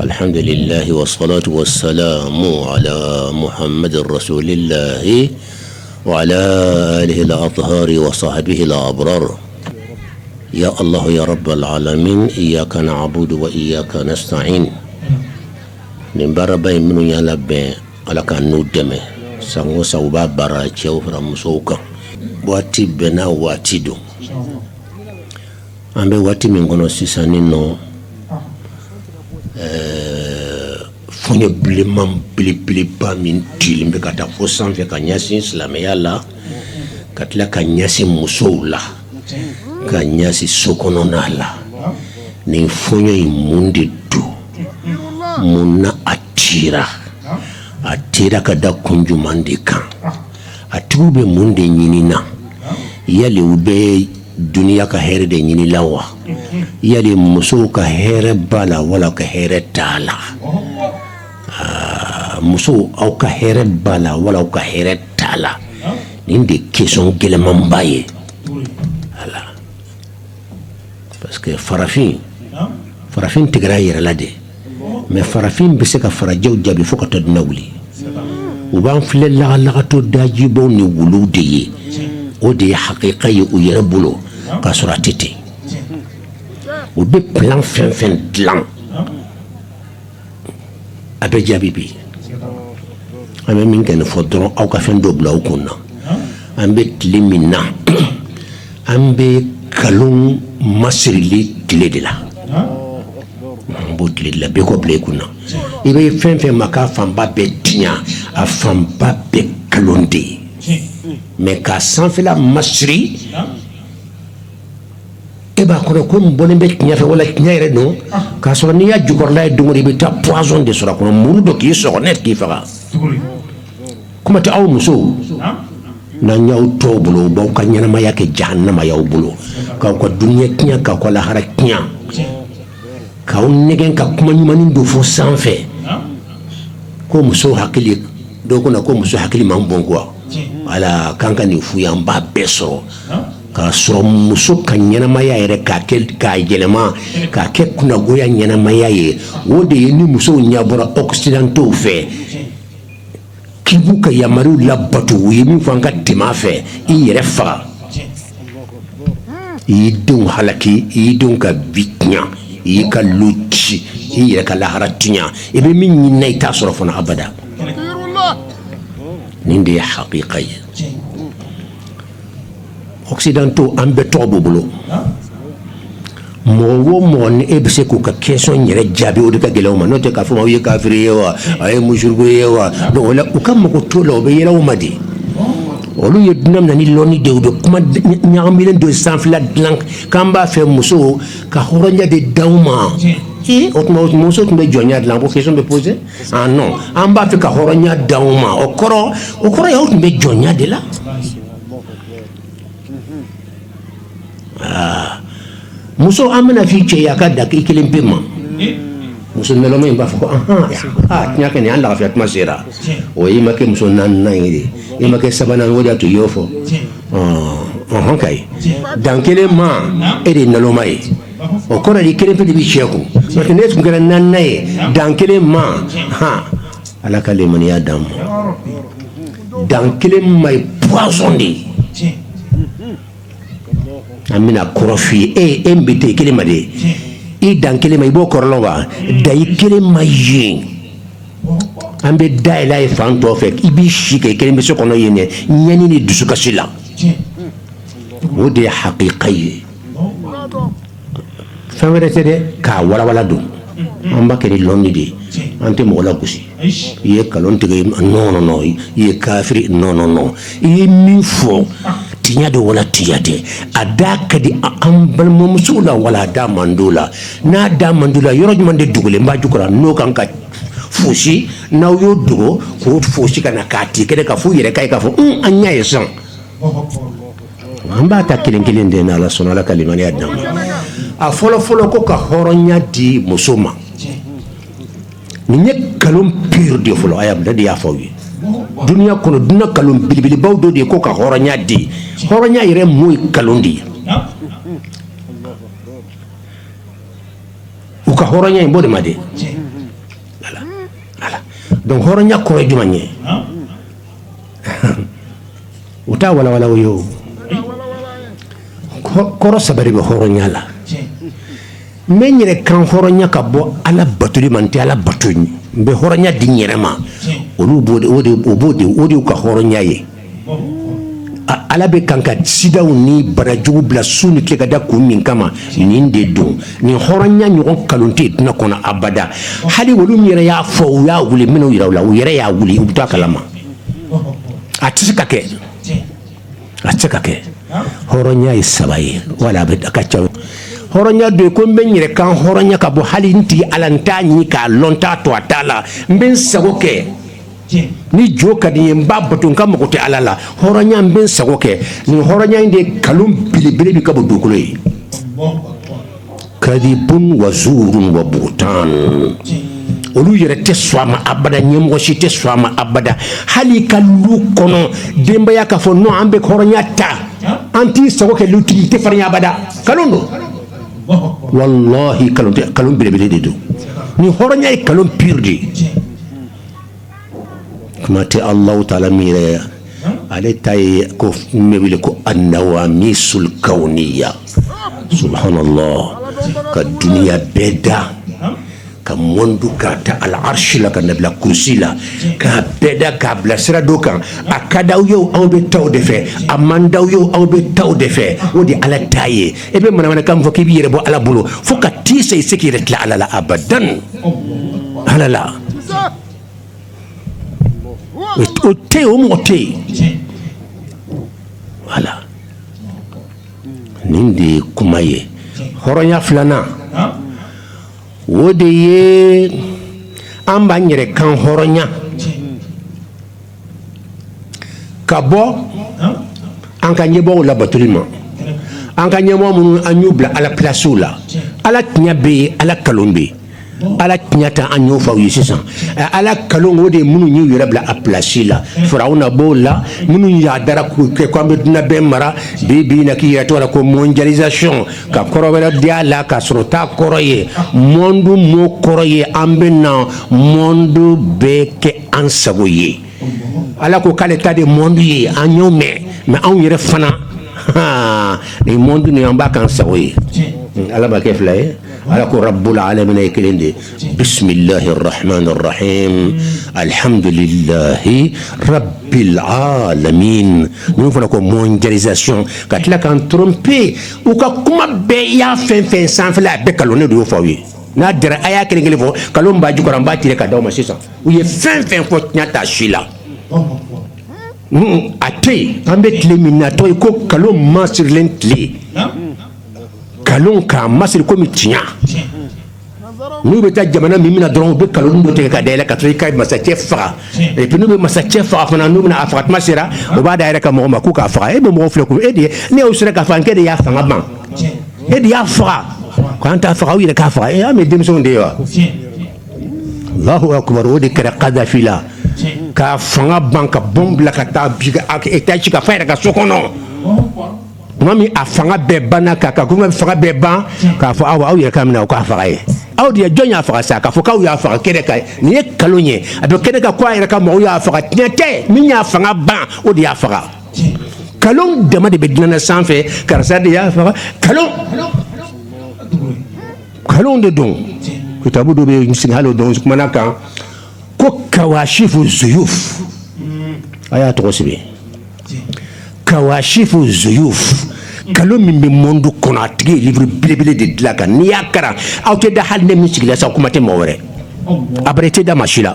alhamdulillah wa salatu wa salamu ala muhammad rasulillah wa ala alihi al-athhari wa sahbihi al-abrar ya allah ya rabb al-alamin iyyaka na'budu wa iyyaka nasta'in nin baaraba in minnu y'a labɛn ala k'an n'u dɛmɛ san o san u b'a baara cɛw fara musow kan waati bɛɛ n'a waati don An bɛ waati min kɔnɔ sisan ni nɔ fɔɲɔ bilenman belebeleba min cilen bɛ ka taa fo sanfɛ ka ɲɛsin silamɛya la ka tila ka ɲɛsin musow la ka ɲɛsin sokɔnɔna la nin fɔɲɔ in mun de don mun na a ci a cira ka da kun jumɛnman de kan a tigiw bɛ mun de ɲinin na yali u bɛ dunya ka hɛrɛ de ɲini la wa yali musow ka hɛrɛ b'a la wala u ka hɛrɛ t'a la aa musow aw ka hɛrɛ b'a la wala aw ka hɛrɛ t'a la nin de question gɛlɛyamanba ye parce que farafin farafin tigɛra a yɛrɛ la de mais farafin bɛ se ka farajɛw jaabi fo ka taa dunya wuli u b'an filɛ lagalagatɔ dajibaw ni wuluw de ye o de ye hakika ye u yɛrɛ bolo k'a sɔrɔ a tɛ ten u bɛ plan fɛn fɛn dilan a bɛ jaabi bi an bɛ min kɛ nin fɔ dɔrɔn aw ka fɛn dɔ bila aw kun na an bɛ tile min na An bɛ nkalon masirili tile de la an b'o tile la bɛɛ k'o bila i kun na i bɛ fɛn fɛn ma k'a fanba bɛɛ tiɲɛ a fanba bɛɛ nkalon de ye mais k'a sanfɛla masiri e b'a kɔnɔ ko nin bɔlen bɛ tiɲɛ fɛ wala tiɲɛ yɛrɛ don k'a sɔrɔ n'i y'a jukɔrɔla ye dɔrɔn i bɛ taa poison de sɔrɔ a kɔnɔ muru don k'i sɔgɔ net k'i faga kuma tɛ aw musow n'an y'aw to u bolo u b'aw ka ɲɛnamaya kɛ jahanama y'aw bolo k'aw ka dunuya tiɲɛ k'aw ka lahara tiɲɛ k'aw nɛgɛn ka kuma ɲumannin dɔ fɔ sanfɛ ko muso hakili dɔgɔ na ko muso hakili man bon quoi ala k'an ka nin f'u ye an b'a bɛɛ sɔrɔ k'a sɔrɔ muso ka ɲɛnamaya yɛrɛ k'a kɛ k'a yɛlɛma k'a kɛ kunnagoya ɲɛnamaya ye o de ye ni musow ɲɛbɔra occidentaux fɛ k'i b'u ka yamaruw labato u ye min fɔ an ka tɛmɛ a fɛ i y'i yɛrɛ faga i y'i denw halaki i y'i denw ka bi tiɲɛ i y'i ka lu ci i y'i yɛrɛ ka lahara tiɲɛ i bɛ min ɲinina i t'a sɔrɔ fana abada nin de ye hakika ye occidentaux an bɛɛ tɔgɔ b'u bolo mɔgɔ wo mɔgɔ ni e bɛ se k'u ka question yɛrɛ jaabi o de ka gɛlɛn aw ma n'o tɛ k'a fɔ aw ye kafiri ye wa aw ye mushriku ye wa donc o la u ka mago t'o la u bɛ yɛlɛ aw ma de olu ye dunya minɛ ni lɔnni de u bɛ kuma ɲagamilen don sanfɛla dilan k'an b'a fɛ muso ka hɔrɔnya de d'aw ma ee o tuma muso tun bɛ jɔnya de la ko question bɛ poser an b'a fɛ ka hɔrɔnya d'aw ma o kɔrɔ o kɔrɔ y'aw tun bɛ jɔnya de la aa muso an bɛna f'i cɛ ye a ka dan k'i kelen pe ma muso in b'a fɔ ko kɛ an lafiya tuma sera o i ma kɛ muso naaninan ye i ma kɛ sabanan o to y'o fɔ ka dan kelen ma e de ye naloma ye o kɔrɔ di kelen pe de bɛ cɛ kun parce que n'e tun kɛra naaninan ye dan kelen ma ala ka limaniya d'an ma dan kelen ma ye poison de ye an bɛna kɔrɔ f'i ye e bɛ to kelen ma de i dan kelen ma i b'o kɔrɔ lɔn wa dan i kelen ma ye an bɛ da yɛlɛ fan tɔw fɛ i b'i si kɛ kelen pe so kɔnɔ yen ɲani ni dusukasi la o de ye hakika ye Fɛn wɛrɛ tɛ dɛ k'a walawala donc an b'a kɛ ni lɔnni de ye an tɛ mɔgɔ lagosi i ye nkalon tigɛ non i ye kafiri non i ye min fɔ tiɲɛ don wala tiɲɛ tɛ a da ka di an balimamusow la wala a da man di u la n'a da man di u la yɔrɔ jumɛn de dogolen b'a jukɔrɔ n'o kan ka fosi n'aw y'o dogo k'o fosi ka na k'a ti kɛ ka fɔ yɛrɛ ka k'a fɔ an ɲɛ ye sɔn An b'a ta kelen kelen de n'ala sɔnna ala ka limaniya d'an ma a fɔlɔ fɔlɔ ko ka hɔrɔnya di muso ma nin ye nkalon pur de fɔlɔ a de y'a fɔ aw ye dunya kɔnɔ dunya nkalon belebelebaw dɔ de ye ko ka hɔrɔnya di hɔrɔnya yɛrɛ mun ye nkalon de ye u ka hɔrɔnya in bɔ de ma de donc hɔrɔnya kɔrɔ ye jumɛn ye u t'a walawala o ye o kɔrɔ saba de bɛ hɔrɔnya la n bɛ n yɛrɛ kanhɔrɔnya ka bɔ ala batoli ma n tɛ ala bato n bɛ hɔrɔnya di n yɛrɛ ma olu b'o o de ka hɔrɔnya ye ala bɛ kan ka sidaw ni banajugu bila su ni tile ka da kun min kama nin de don nin hɔrɔnya ɲɔgɔn nkalon tɛ yen dunya kɔnɔ abada hali olu min yɛrɛ y'a fɔ u y'a wuli minnu jira aw la u yɛrɛ y'a wuli u b'a kalama a tɛ se ka kɛ a tɛ se ka kɛ hɔrɔnya ye saba ye wala a bɛ ka ca hɔrɔnya dɔ ko n bɛ n yɛrɛ kanhɔrɔnya ka bɔ hali n tigi ala n t'a ɲini k'a lɔn n t'a to a ta la n bɛ n sago kɛ ni jo ka di n ye n b'a bato k'a mago tɛ ala la hɔrɔnya n bɛ n sago kɛ nin hɔrɔnya in de kalon belebele bɛ ka bɔ dugukolo ye kadibun wa zurun wa buhutan olu yɛrɛ tɛ sɔn a ma abada ɲɛmɔgɔ si tɛ sɔn a ma abada hali ka lu kɔnɔ denbaya k'a fɔ n'o an bɛ hɔrɔnya ta an t'i sago kɛ lutigi tɛ farinya abada kalon don walahi kalon belebele de don nin hɔrɔnya ye kalon pur de ye kuma tɛ ala taala mi yan ale ta ye ko min bɛ wele ko annawamisul kawniya subhanala ka dunya bɛɛ da ka mɔndu ka ta al arsi la ka n'a bila kurusi la ka bɛɛ da k'a bila sira dɔw kan a ka d'aw ye o aw bɛ taa o de fɛ a man d'aw ye o aw bɛ taa o de fɛ o de ala ta ye e bɛ manamanakan fɔ k'i bɛ yɛrɛ bɔ ala bolo fo ka taa i se i se k'i yɛrɛ tila ala la abada ala la o tɛ o mɔgɔ tɛ yen wala nin de ye kuma ye hɔrɔnya filanan o de ye an b'an yɛrɛ kanhɔrɔnya ka bɔ an ka ɲɛmɔgɔ labatoli ma an ka ɲɛmɔgɔ minnu an y'u bila ala plasiw la ala tiɲɛ bɛ yen ala kalon bɛ yen ala tiɲɛ ta an y'o fɔ aw ye sisan ala kalon o de ye minnu y'u yɛrɛ bila a plasi la farawuna b'o la minnu yadara k'u kɛ ko an bɛ dunya bɛɛ mara bi bi na k'i yɛrɛ tɔgɔ la ko mondialisation ka kɔrɔ wɛrɛ di a la ka sɔrɔ o t'a kɔrɔ ye mɔndu mɔ kɔrɔ ye an bɛ na mɔndu bɛɛ kɛ an sago ye ala ko k'ale ta de mɔndu ye an y'o mɛn anw yɛrɛ fana ni mɔndu ni an b'a k'an sago ye ala bɛ kɛ fila ye ala ko rabil alamina ye kelen de bisimilahi rahmani rahimi alihamdulilahi rabil alamina n fana ko mondialisation ka tila k'an tromper u ka kuma bɛɛ i y'a fɛn o fɛn san a bɛɛ kalon ne de y'o fɔ aw ye n'a diyara a y'a kelen kelen fɔ kalon b'a jukɔrɔ an b'a tirer ka di aw ma sisan u ye fɛn o fɛn fɔ tiɲɛ t'a si la a tɛ yen an bɛ tile min na o tɔgɔ ye ko kalon masirilen tile kalon k'a masiri komi tiɲɛ n'u bɛ taa jamana min minɛ dɔrɔn u bɛ kalon dɔ tigɛ k'a da i la ka taa i ka masacɛ faga epi n'u bɛ masacɛ faga fana n'u bɛna a faga kuma sera u b'a d'a yɛrɛ ka mɔgɔ ma k'u k'a faga e bɛ mɔgɔ filɛ ko e de ne y'o sera k'a faga e de y'a faga ban e de y'a faga k'an t'a faga aw yɛrɛ k'a faga e y'a mɛn denmisɛnw de ye wa Alahu akbar o de kɛra Kadafi la k'a fanga ban ka bombe bila ka taa bi k'a ka état ci k'a faga a yɛrɛ ka so kɔnɔ tuma min a fanga bɛɛ banna kan ka fanga bɛɛ ban k'a fɔ aw aw yɛrɛ k'a minɛ aw k'a faga ye aw de ye jɔn y'a faga sa k'a fɔ aw y'a faga kɛnɛ kan nin ye nkalon ye a bɛ kɛnɛ kan ko a yɛrɛ ka mɔgɔw y'a faga tiɲɛ tɛ min y'a fanga ban o de y'a faga nkalon dama de bɛ diɲɛ sanfɛ karisa de y'a faga nkalon nkalon de don kitabu dɔ bɛ yen misiri hali o don kumana a kan ko kawashifu zuyuf a y'a tɔgɔ sɛbɛn kawashifu zuyuf nkalon min bɛ monde kɔnɔ a tigi ye livre belebele de dilan a kan n'i y'a karan aw tɛ da hali ne min sigila sa kuma tɛ mɔgɔ wɛrɛ abada i tɛ da maa si la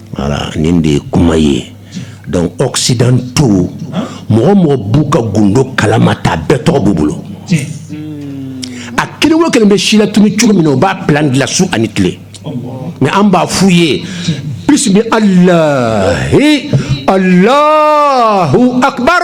Voilà nin de ye kuma ye donc occidentaux mɔgɔ o mɔgɔ b'u ka gundo kalama ta bɛɛ tɔgɔ b'u bolo a kelen o kelen bɛ silatunu cogo min na o b'a plan dilan su ani tile mais an b'a f'u ye bisimi alahi alahu akbar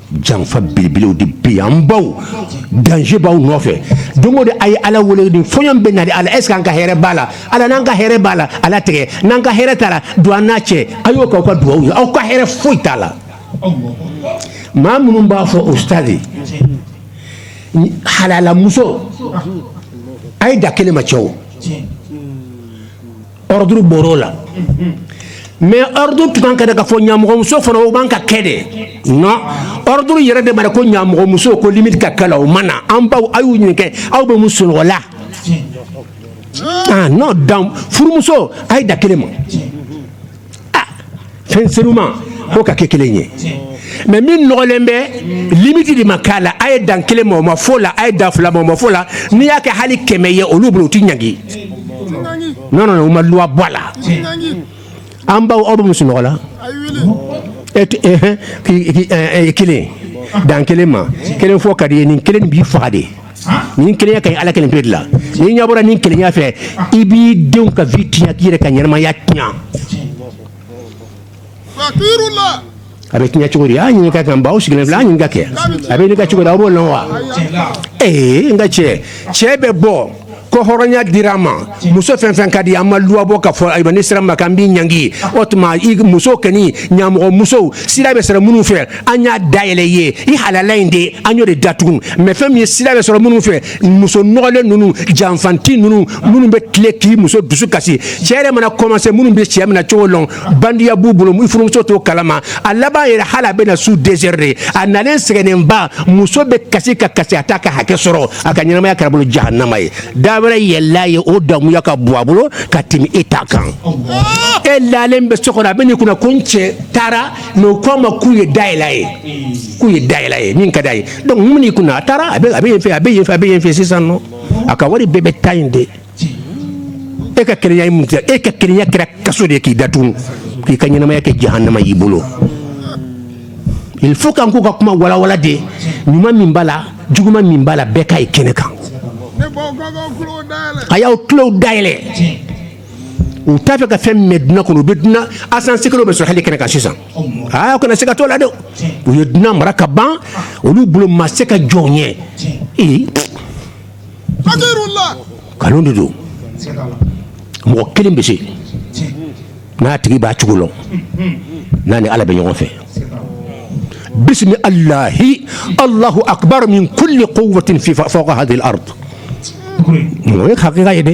janfa belebelew de bɛ yan an baw danger b'aw nɔfɛ don o don a ye ala wele ni fɔɲɔ bɛ na de ala est ce que an ka hɛrɛ b'a la ala n'an ka hɛrɛ b'a la ala t'a kɛ n'an ka hɛrɛ t'a la don an n'a cɛ a y'o k'aw ka dugawu ye aw ka hɛrɛ foyi t'a la maa minnu b'a fɔ au stade halalamuso a ye dan kelen ma cɛw ordre bɔr'o la mais ordre tun kan ka da k'a fɔ ɲamɔgɔmuso fana o man ka kɛ de non ordre yɛrɛ de ma da ko ɲamɔgɔmuso ko limite ka k'a la o ma na an baw aw y'u ɲininka aw bɛ muso nɔgɔ la non dans furumuso a ye dan kelen ma fɛn senuma ko ka kɛ kelen ye mais min nɔgɔlen bɛ limite de ma k'a la a ye dan kelen ma o ma f'o la a ye dan fila ma o ma f'o la n'i y'a kɛ hali kɛmɛ ye olu bolo u tɛ ɲangi non non u ma loi bɔ a la an baw aw bɛ muso nɔgɔ la kelen dan kelen ma kelen fɔ ka d'i ye nin kelen b'i faga de nin kelenya ka ɲi ala kelen pe de la n'i ɲɛbɔra nin kelenya fɛ i b'i denw ka vie tiɲɛ k'i yɛrɛ ka ɲɛnamaya tiɲɛ a bɛ tiɲɛ cogo di a ɲininka an baw sigilen filɛ ɲininka kɛ a bɛ ne ka cogo di aw b'o lɔn wa ee n ka cɛ cɛ bɛ bɔ ko hɔrɔnya dira an ma muso fɛn o fɛn ka di an ma loi bɔ k'a fɔ ayiwa n'i sira maa kan an b'i ɲangi o tuma i muso kɛni ɲamɔgɔ musow sida bɛ sɔrɔ minnu fɛ an y'a dayɛlɛ i ye i halala in de an y'o de datugu mais fɛn min ye sida bɛ sɔrɔ minnu fɛ muso nɔgɔlen ninnu janfanti ninnu minnu bɛ tile k'i muso dusu kasi cɛ yɛrɛ mana commencer minnu bɛ cɛ minɛ cogo lɔn bandiya b'u bolo i furumuso t'o kalama a laban yɛrɛ hali a bɛna su dɛsɛri de a nalen sɛgɛnnenba muso bɛ kasi ka kasi a t'a ka hakɛ sɔrɔ a ka ɲɛnamaya kɛra a bolo jahanama ye da wɛrɛ yɛlɛla ye o damuya ka bon a bolo ka tɛmɛ e ta kan e lalen bɛ so kɔnɔ a bɛ n'i kunna ko n cɛ taara mɛ o ko a ma k'u ye dayɛlɛ ye k'u ye dayɛlɛ ye min ka d'a ye donc mun n'i kunna a taara a bɛ yen fɛ a bɛ yen fɛ a bɛ yen fɛ sisan nɔ a ka wari bɛɛ bɛ taa yen de e ka keleya mun kɛ e ka keleya kɛra kaso de k'i datugu k'i ka ɲɛnamaya kɛ jahanama y'i bolo il faut k'an k'u ka kuma walawala de ɲuman min b'a la juguman min b'a la bɛɛ ka ye kɛnɛ kan a y'aw tulow dayɛlɛ u t'a fɛ ka fɛn mɛn duniya kɔnɔ u bɛ duniya asansigi bɛɛ sɔrɔ hali kɛnɛ kan sisan aa kana siga t'o la dɛ u ye duniya mara ka ban olu bolo masakɛ jɔn ye kanu de don mɔgɔ kelen bɛ se n'a tigi b'a cogo la n'a ni ala bɛ ɲɔgɔn fɛ bisimila alahi alahu akbar min kuli kuwatin fi fawka hazihil ardi o ye hakika ye dɛ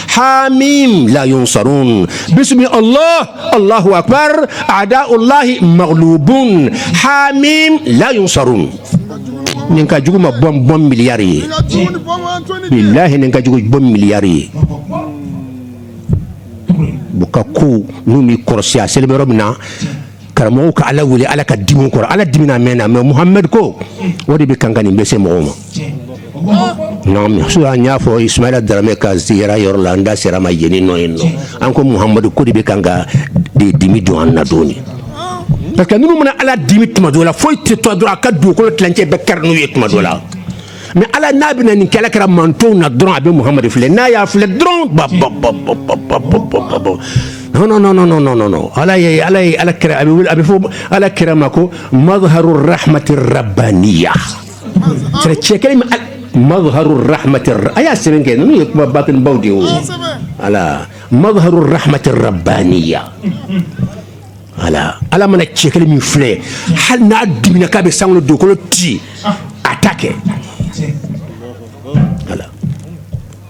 hamim la yunsarun bisimi allah allahu akbar adaulahi maglubun hamim la yunsarun nin ka jugu ma bɔnbu miliyari ye bilahi nin ka jugu bɔnbu miliyari ye u ka kow n'u m'i kɔrɔsi a selen bɛ yɔrɔ min na karamɔgɔw ka ala wele ala ka dimi u kɔrɔ ala dimina mɛnna mɛ muhamɛd ko o de bɛ kan ka nin bɛ se mɔgɔw ma an y'a fɔ isumayila daramɛ ka ziyara yɔrɔ la an da sera a ma yen nɔ ye an ko muhamadu ko de bɛ kan ka de dimi don an na dɔɔni parce que minnu mana ala dimi tuma dɔ la foyi tɛ to dɔrɔn a ka dugukolo tilancɛ bɛɛ kari n'u ye tuma dɔ la mɛ ala n'a bɛ nin kɛlɛ kɛra mantonw na dɔrɔn a bɛ muhamadu filɛ n'a y'a filɛ dɔrɔn ba ala kira a bɛ fɔ ala kira ma ko mazharu rahamati rabaniya cɛ kelen mazharu rahamati a y'a sɛbɛn kɛ n'o ye kuma batini baw de ye ala mazharu rahamati rabaniya ala ala mana cɛ kelen min filɛ hali n'a dimina k'a bɛ sankolo dugukolo ci a t'a kɛ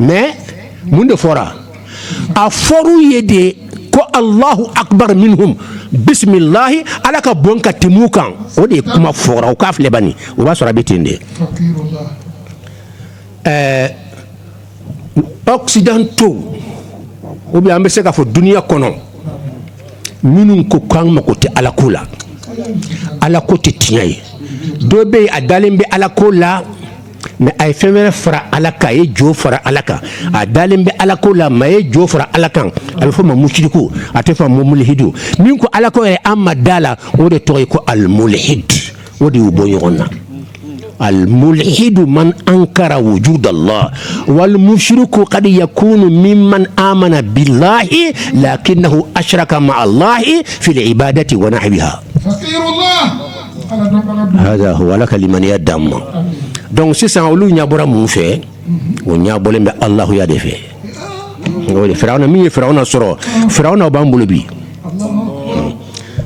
mɛ mun de fɔra a fɔra yen de ko alahu akbar minhum bisimilayi ala ka bon ka tɛmɛ u kan o de ye kuma fɔra o k'a filɛ ban o b'a sɔrɔ a bɛ ten de ɛɛ occidentaux ou bien an bɛ se k'a fɔ dununya kɔnɔ minnu ko ko an mako tɛ ala ko la ala ko tɛ tiɲɛ ye dɔ bɛ a dalen bɛ ala ko la mais a ye fɛn wɛrɛ fara ala kan a ye jo fara ala kan a dalen bɛ ala ko la mais a ye jo fara ala kan a bɛ fɔ ma musiriku a tɛ fɔ ma mulihidu min ko ala ko yɛrɛ an ma da la o de tɔgɔ ye ko alimulihidu o de y'u bɔ ɲɔgɔn na alimulihidu man ankara wujuda lahi walimusiriku kadi yakunu miman amana bilahi lakinahu asiraka maa lahi fili ibadati wa nahwiha wala ka limaniya d ma dɔnku sisan olu ɲɛ bɔra minnu fɛ o ɲɛ bɔlen bɛ alahuya de fɛ fɛrɛraw min ye fɛɛrɛw na sɔrɔ fɛw na b'an bolo bi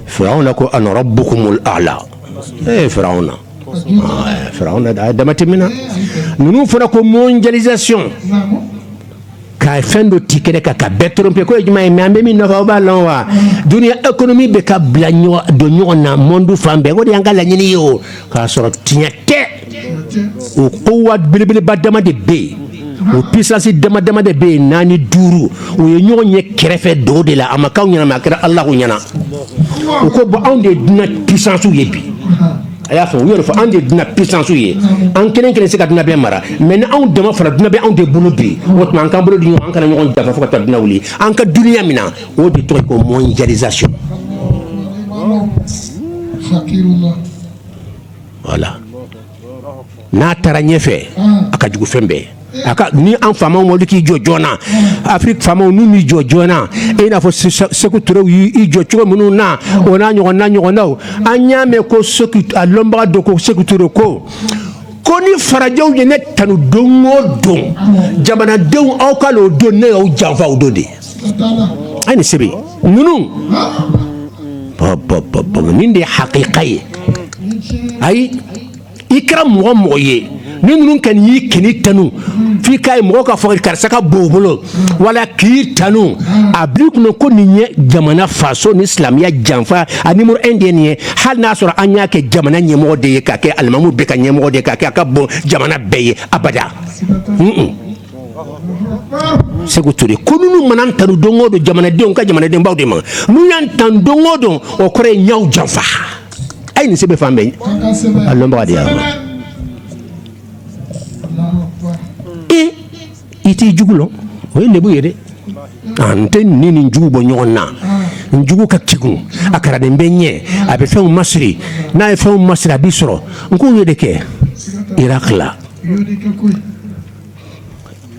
fɛw na ko a bo a la e fɛw na fɛ a ye damati min na ninnu fɔra ko mɔn jazc ka fɛn dɔ ti kɛnɛ kan ka bɛɛ tromper ko ye jumɛn ye mais an bɛ min nɔfɛ aw b'a lɔn wa duniya économie bɛɛ ka bila don ɲɔgɔn na monde fan bɛɛ ko o de y'an ka laɲini ye o k'a sɔrɔ tiɲɛ tɛ o kuwa belebeleba dama de bɛ yen o puissance dama dama de bɛ yen naani duuru o ye ɲɔgɔn ye kɛrɛfɛ doo de la a ma k'aw ɲɛ na mais a kɛra alahu ɲɛ na u ko bon anw de ye duna puissancew ye bi a y'a fɔ u yɛrɛ fɔ anw de duna puissancew ye an kelen kelen se ka duna bɛɛ mara mais ni anw dama fara duna bɛ anw de bolo bi o tuma an k'an bolo di ɲɔgɔn an kana ɲɔgɔn janfa fo ka taa duna wuli an ka duniya mina o de tɔgɔ ye ko mondialisation voilà n'a taara ɲɛfɛ a ka jugu fɛn bɛɛ a ka ni an faamaw ma k'i jɔ joona afrique faamaw n'u m'i jɔ joona e n'a fɔ seku turew y'i jɔ cogo minnu na o n'a ɲɔgɔn na ɲɔgɔnnaw an y'a mɛn ko a lɔnbaga don ko seku ture ko ko ni farajɛw ye ne tanu don o don jamanadenw aw k'a lɔn o don ne y'aw janfa o don de a ye nin sɛbɛn ninnu nin de ye hakika ye ayi i kɛra mɔgɔ o mɔgɔ ye ni ninnu kɛ y'i kini tanu f'i k'a ye mɔgɔ ka fɔ karisa ka bon bolo wala k'i tanu a bil'i kɔnɔ ko nin ye jamana faso ni silamɛya janfa a numéro un de ye nin ye hali n'a sɔrɔ an y'a kɛ jamana ɲɛmɔgɔ de ye k'a kɛ alimamu bɛɛ ka ɲɛmɔgɔ de ye k'a kɛ a ka bon jamana bɛɛ ye abada seku ture ko ninnu mana n tanu don o don jamanadenw ka jamanadenbaw de ma n'u y'an tanu don o don o kɔrɔ ye n y'aw janfa a ye nin sɛbɛn fan bɛɛ a lɔnbaga de y'a e i t'i jugu lɔn o ye lebu ye dɛ n tɛ ni nin jugu bɔ ɲɔgɔn na n jugu ka kegun a karanden bɛ ɲɛ a bɛ fɛnw masiri n'a ye fɛnw masiri a b'i sɔrɔ n k'o ye de kɛ iraki la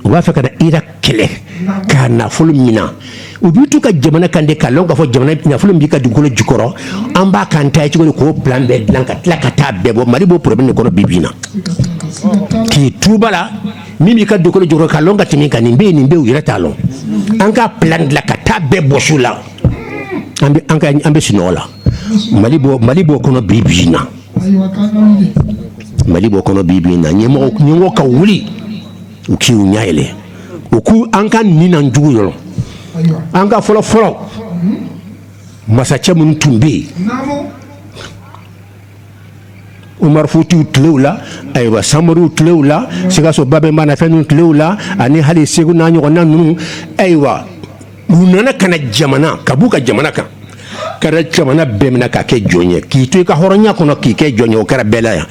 u b'a fɛ ka na Irak kɛlɛ k'a nafolo mina u b'i to u ka jamana kan de k'a lɔn k'a fɔ jamana nafolo min b'i ka dugukolo jukɔrɔ an b'a k'an ta ye cogo di k'o plan bɛɛ dilan ka tila ka taa bɛɛ bɔ mali b'o problème de kɔnɔ bi bi in na k'i to u bara min b'i ka dugukolo jukɔrɔ k'a lɔn ka tɛmɛ i kan nin bɛ yen nin bɛ u yɛrɛ t'a lɔn an k'a plan dilan ka taa bɛɛ bɔsi u la an bɛ an ka an bɛ sunɔgɔ la mali b'o mali b'o kɔnɔ bi bi in na mali b'o kɔnɔ bi bi in na ɲɛmɔgɔ ka wuli u k'i u ɲɛ yɛlɛ u k'u an ka nin na jugu yɔrɔ an ka fɔlɔ fɔlɔ masacɛ minnu tun bɛ yen Umaru Futiw tile la ayiwa Samoriw tile la sikaso Babɛnba n'a fɛnw tile la ani hali segu n'a ɲɔgɔnna ninnu ayiwa u nana ka jamana ka b'u ka jamana kan ka jamana bɛɛ minɛ ka kɛ jɔn ye k'i to i ka hɔrɔnya kɔnɔ k'i kɛ jɔn ye o kɛra bɛɛ la yan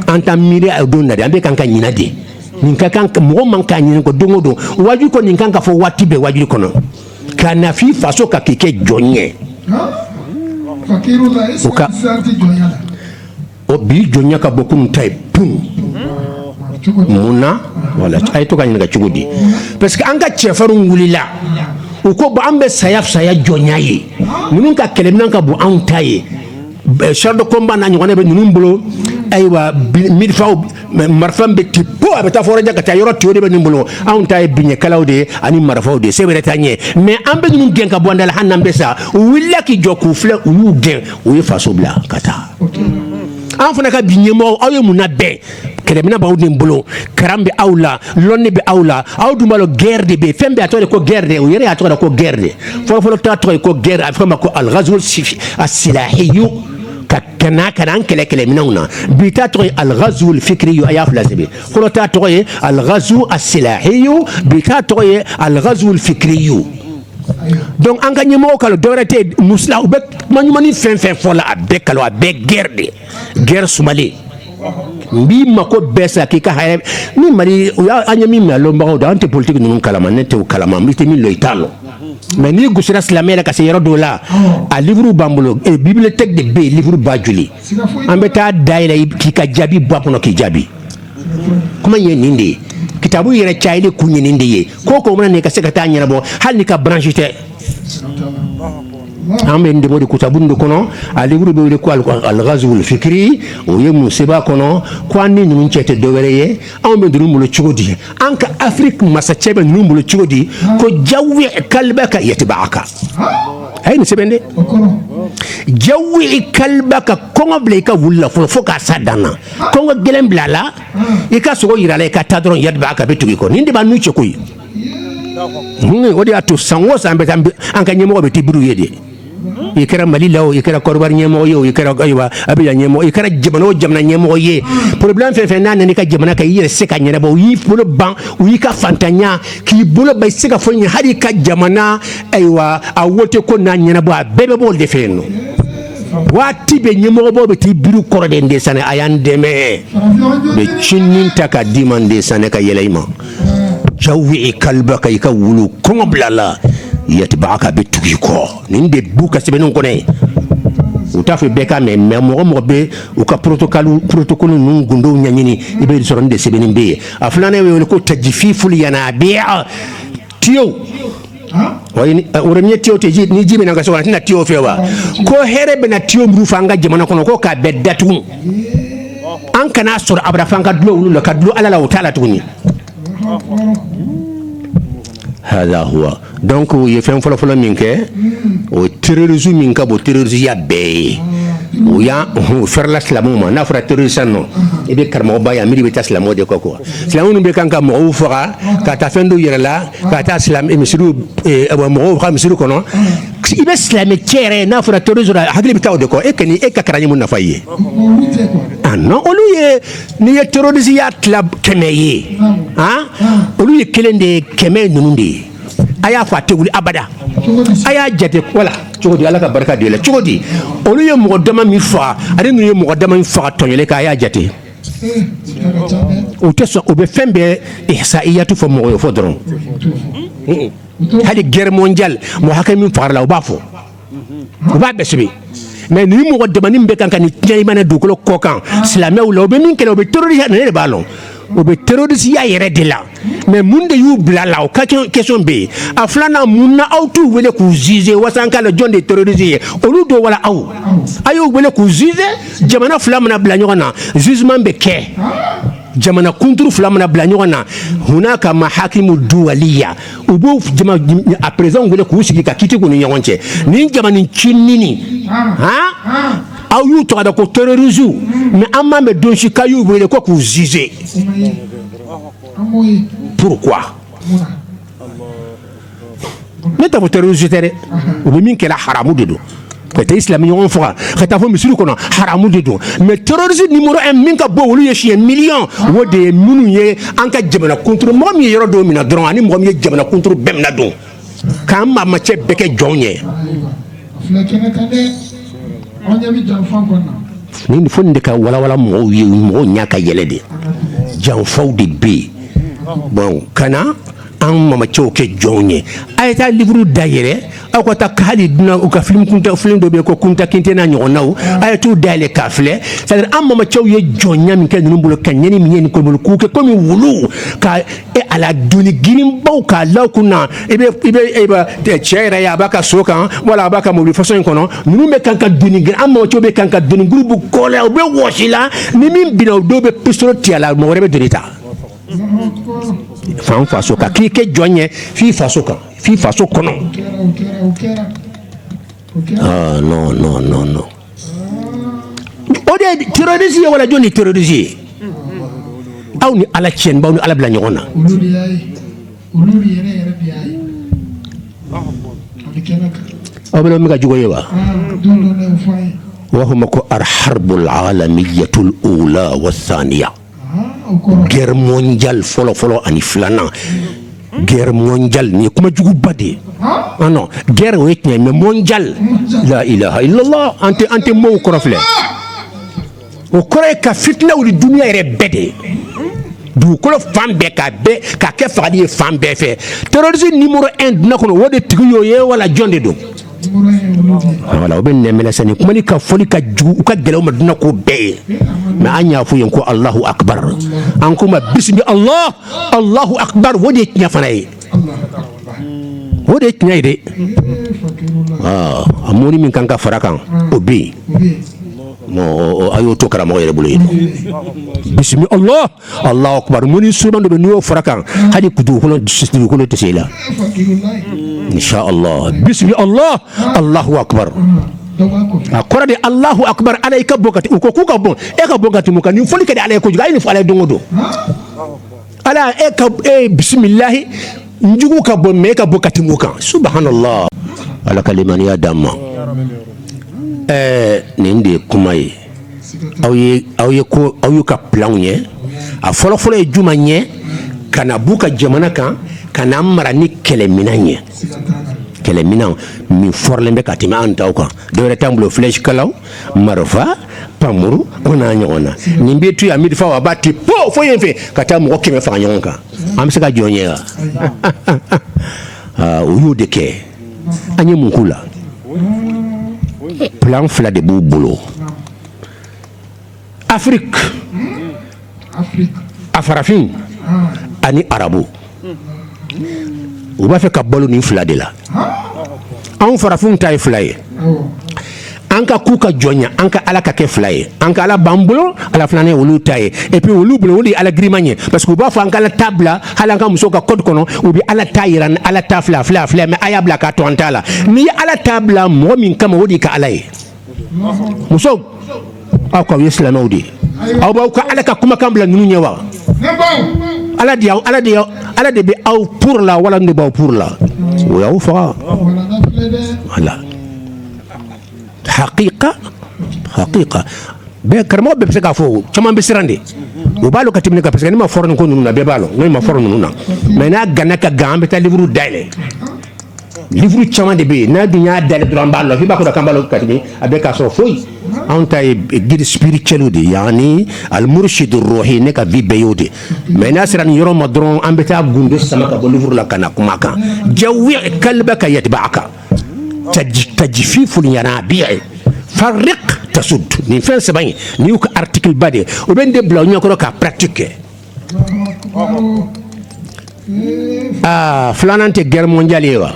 an ka miiri a don na an bɛ kan ka ɲinɛ de nin ka kan mɔgɔ man ka ɲinɛ nin kɔ don o don waju kɔnɔ nin kan ka fɔ waati bɛɛ waju kɔnɔ ka na f'i faso kan k'i kɛ jɔn ye o ka o bi jɔnya ka bon kunun ta ye p mun na wala a ye to ka ɲininka cogo di parce que an ka cɛfarinw wulila u ko an bɛ saya saya jɔnya ye ninnu ka kɛlɛmina ka bon anw ta ye char de combat n'a ɲɔgɔnna bɛ ninnu bolo ayiwa mifaw marifa bɛ ti po a bɛ taa fo yɔrɔ jan ka taa yɔrɔ ti o de bɛ ninnu bolo anw ta ye biɲɛkalaw de ye ani marifaw de ye se wɛrɛ t'an ye mais an bɛ ninnu gɛn ka bɔ an da la hali n'an bɛ sa u wulila k'i jɔ k'u filɛ u y'u gɛn u ye faso bila ka taa an fana ka bi ɲɛmɔgɔ aw ye mun labɛn kɛlɛmina b'aw de bolo karan bɛ aw la lɔnni bɛ aw la aw dun b'a lɔn guerre de bɛ fɛn bɛɛ a tɔgɔ de ko guerre de o yɛrɛ y'a tɔgɔ de ko guerre de fɔlɔfɔlɔ ta tɔgɔ ye ko guerre a bɛ f'a ma ko alghazu asilahiyu ka na ka na an kɛlɛ kɛlɛminɛnw na bi ta tɔgɔ ye alghazul fikriyu a y'a fila sɛbɛn fɔlɔ ta tɔgɔ ye alghazu asilahiyu bi ta tɔgɔ ye alghazul fikriyu donc an ka ɲɛmɔgɔ k'a lɔn dɔwɛrɛ tɛ mɔgɔ si la u bɛ kuma ɲumanni fɛn fɛn fɔ la a bɛɛ kalon a bɛɛ guerre de guerre sumalen n b'i mako bɛɛ sa k'i ka hɛrɛ ni mali u y'a an ye min mɛn a lɔnbagaw da an tɛ politique ninnu kalama ne tɛ o kalama i tɛ min lɔn i t'a lɔn mais n'i gosira silamɛ la ka se yɔrɔ dɔw la a livre b'an bolo eh, bibliothèque de bɛ yen livre ba joli an bɛ taa dayɛlɛ k'i ka jaabi bɔ a kɔnɔ k'i jaabi kuma ye nin de ye kitabu yɛrɛ cayali kun ye nin de ye ko ko mana na i ka se ka taa ɲɛnabɔ hali n'i ka branche tɛ an bɛ nin de bɔ de kitabu in de kɔnɔ a livre bɛ wele ko algazul fikiri o ye mun sɛbɛn a kɔnɔ ko an ni ninnu cɛ tɛ dɔwɛrɛ ye anw bɛ ninnu bolo cogo di an ka Afrique masacɛ bɛ ninnu bolo cogo di ko jawi kalbaka yatbaaka a ye nin sɛbɛn dɛ jawi kalbaka kɔngɔ bila i ka wulu la fɔlɔ fo ka se a dan na kɔngɔ gɛlɛn bila a la i ka sogo jira a la i ka taa dɔrɔn yatba'aka bɛ tugu i kɔ nin de b'an n'u cɛ koyi o de y'a to san o san an bɛ taa an ka ɲɛmɔgɔ bɛ t'i biri u ye de i kɛra mali la o i kɛra Côte d'Ivoire ɲɛmɔgɔ ye o i kɛra ayiwa a bɛ ɲɛmɔgɔ i kɛra jamana o jamana ɲɛmɔgɔ ye problème fɛn fɛn n'a nana i ka jamana kan i yɛrɛ se ka ɲɛnabɔ u y'i bolo ban u y'i ka faantanya k'i bolo ban i se ka foyi ɲɛ hali i ka jamana ayiwa a wote ko n'a ɲɛnabɔ a bɛɛ bɛ b'o de fɛ yen nɔ waati bɛ ɲɛmɔgɔbaw bɛ t'i biri kɔrɔ de de sani a y'an dɛmɛ bɛ cinin ta ka d'i ma n de sani ka yɛlɛ i ma jawi kalbaka i ka wulu kɔngɔ bila a la yatba'aka bɛ tugu i kɔ nin de b'u ka sɛbɛnniw kɔnɔ yen u t'a fɔ bɛɛ ka mɛn mais mɔgɔ mɔgɔ bɛ u ka protocole ninnu gundow ɲɛɲini i bɛ sɔrɔ nin de sɛbɛnnen bɛ yen a filanan bɛ wele ko tajfiful yanabi'a tiyo wayi ni- o ye tiyo tɛ ji ni ji bɛ na i ka so kɔnɔ a tɛ na tiyo fɛ wa ko hɛrɛ bɛ na tiyo minnu fɛ an ka jamana kɔnɔ ko k'a bɛɛ datugu an kana sɔrɔ abada f'an ka dulon olu la ka dulon ala la o t'a la tuguni hada huwa donc u ye fɛn fɔlɔfɔlɔ min kɛ o terrorisme min ka bon terrorisiya bɛɛ ye u y'a fɛrɛla silamɛw ma n'a fɔra terroriste nɔ i bɛ karamɔgɔba ye a miiri bɛ taa silamɛw de kɔ quoi Silamɛw ninnu bɛ kan ka mɔgɔw faga ka taa fɛn dɔw yɛrɛ la ka taa misiriw mɔgɔw ka misiri kɔnɔ i bɛ silamɛ cɛ yɛrɛ ye n'a fɔra terroriste hakili bɛ taa u de kɔ e ka kalan ye mun nafa ye non olu ye n'i ye terrorisiya tila kɛmɛ ye olu ye kelen de ye kɛmɛ ninnu de ye a y'a fɔ a tɛ wuli abada a y'a jate wala cogo di ala ka barika de la cogo di olu ye mɔgɔ dama min faga ani ninnu ye mɔgɔ dama min faga tɔn kelen k'a y'a jate U tɛ sɔn u bɛ fɛn bɛɛ ihsaiyatu fɔ mɔgɔ ye fɔ dɔrɔn hali guerre mondiale mɔgɔ hakɛ min fagara la u b'a fɔ u b'a bɛɛ sɛbɛn mais ni mɔgɔ damanin bɛ kan ka ni tiɲɛ i mana dugukolo kɔ kan silamɛ la u bɛ min kɛla u bɛ terroriste ne de b'a lɔn u bɛ terrorisiya yɛrɛ de la mais mun de y'u bila la o ka question bɛ yen a filanan mun na aw t'u wele k'u juger walasa k'a lɔn jɔn de ye terroriste ye olu don wala aw a y'u wele k'u juger jamana fila mana bila ɲɔgɔn na jugement bɛ kɛ jamana kunturu fila mana bila ɲɔgɔn na hunaka mahakimu duwaliya u b'o a perezidanw wele k'u sigi ka kiiti k'u ni ɲɔgɔn cɛ nin jamana cinini aw y'u tɔgɔ da ko terrorisiw mais an m'a mɛn don si k'a y'u wele ko k'u juger ne t'a fɔ terroriste tɛ dɛ u bɛ min kɛla haramu de don ka taa silamɛ ɲɔgɔn faga ka taa fo misiri kɔnɔ haramu de don mais terrorisme numéro un min ka bon olu ye siɲɛ million o de ye minnu ye an ka jamana kunturu mɔgɔ min ye yɔrɔ dɔ minɛ dɔrɔn ani mɔgɔ min ye jamana kunturu bɛɛ minɛ donc k'an maamacɛ bɛɛ kɛ jɔnw ye nin fɔ de ka wala mɔgɔw ye mɔgɔw ɲɛ ka yɛlɛ de janfaw de bɛ yen bon ka na an mamacɛw kɛ jɔnw ye a ye taa livre da yɛlɛ aw ka taa ka dunan u ka film kunta film dɔ bɛ yen ko kunta kinte n'a ɲɔgɔnnaw a ye t'u da yɛlɛ k'a filɛ c'est-à-dire an mamacɛw ye jɔnya min kɛ ninnu bolo ka ɲani min ye nin kɔnɔ k'u kɛ kɔmi wulu ka e ala doni girinbaw k'a la u kun na i bɛ i bɛ e bɛ cɛ yɛrɛ ye a b'a ka so kan wala a b'a ka mobili façon in kɔnɔ ninnu bɛ kan ka doni girin an mamacɛw bɛ kan ka doni gurubu kɔ la u bɛ wɔsi la ni min binna o dɔw bɛ pistolet ti a la mɔgɔ wɛrɛ bɛ doni ta f'an faso kan k'i kɛ jɔn ye f'i faso kan f'i faso kɔnɔ non non non non o de ye terroriste ye wala jɔni ye terroriste ye aw ni ala cɛ n b'aw ni ala bila ɲɔgɔn na aw bɛ min ka jugu ye wa u b'a fɔ ma ko alharbul alamiyatul ula wa saniya guerre mondiale fɔlɔ fɔlɔ ani filanan guerre mondiale nin ye kuma juguba de ye ah non guerre o ye tiɲɛ mais mondiale la ilaha illallah an tɛ an tɛ mot kɔrɔ filɛ o kɔrɔ ye ka fitina wuli duniya yɛrɛ bɛɛ de ye dugukolo fan bɛɛ ka bɛɛ ka kɛ fagali ye fan bɛɛ fɛ terrorisme numéro 1 duniya kɔnɔ o de tigi y'o ye wala jɔn de don wala u bɛ nɛɛminɛ sa ni kuma ni ka fɔli ka jugu a ka gɛlɛn u ma duniya ko bɛɛ ye mais an y'a fɔ yen ko alahu akubaru an kuma bisimila allah alahu akubaru o de ye tiɲɛ fana ye o de ye tiɲɛ ye dɛ aa a mɔni min kan ka fara kan o bɛ yen a y'o to karamɔgɔ yɛrɛ bolo yen bisimila allah Allahu akbar mun ni suman dɔ bɛ n'i y'o fara kan hali dugukolo dugukolo tɛ se la insha Allah bismi Allah Allahu akbar a kɔrɔ de Allahu akbar Ala i ka bon ka u ko k'u ka bon e ka bon ka tɛmɛ u kan nin fɔli ka di Ala ye kojugu a ye nin fɔ Ala ye don o don Ala e ka e bisimilahi n jugu ka bon mais e ka bon ka tɛmɛ u kan subhanallah Ala ka limaniya d'an ma ɛɛ nin de ye kuma ye aw ye aw ye ko aw y'u ka planw ye a fɔlɔfɔlɔ ye jumɛn ye ka na b'u ka jamana kan ka n'an mara ni kɛlɛminɛn ye kɛlɛminɛn min fɔrɔlen bɛ ka tɛmɛ an taw kan dɔwɛrɛ t'an bolo flèche kalaw marifa pamuru o n'a ɲɔgɔnna nin bɛ to yan marifa a b'a ti po fo yen fɛ ka taa mɔgɔ kɛmɛ faga ɲɔgɔn kan an bɛ se ka jɔ o ɲɛ wa u y'o de kɛ an ye mun ko la plan fila de b'u bolo afrique a farafin ani arabu u b'a fɛ ka balo nin fila de la anw farafinw ta ye fila ye an ka k'u ka jɔnya an ka ala ka kɛ fila ye an ka ala b'an bolo ala filanan ye olu ta ye et puis olu bolo o de ye ala giriman ye parce que u b'a fɔ an ka ala ta bila hali an ka muso ka code kɔnɔ u bɛ ala ta yira ni ala ta filɛ filɛ filɛ mais a y'a bila ka to an ta la n'i ye ala ta bila mɔgɔ min kama o d'i ka ala ye musow aw k'aw ye silamɛw de ye aw b'aw ka ala ka kumakan bila ninnu ɲɛ wa ala de y'aw ala de y'aw ala de bɛ aw pour la wala n de b'aw pour la o y'aw faga voilà hakika hakika bɛɛ karamɔgɔ bɛɛ bɛ se k'a fɔ caman bɛ siran de u b'a lɔn ka tɛmɛ ne kan parce que ne man fort nin ko ninnu na bɛɛ b'a lɔn ne man fort ninnu na mais n'a ganna ka gan an bɛ taa livre dayɛlɛ livre caman de bɛ yen n'an dun y'a dayɛlɛ dɔrɔn an b'a lɔn i b'a kɔnɔ k'an b'a lɔn ka tɛmɛ a bɛ k'a sɔrɔ foyi anw ta ye guide spirituel de ye yani almurshid ruhi ne ka vie bɛɛ y'o de mais n'a sera nin yɔrɔ ma dɔrɔn an bɛ taa gundo sama ka bɔ livre la ka na kuma kan jawi kalbaka yatba'aka taj- tajfiful yanabi'i farriq tasud nin fɛn saba in nin y'u ka article ba de ye u bɛ nin de bila u ɲɛkɔrɔ k'a pratique kɛ aa filanan tɛ guerre mondiale ye wa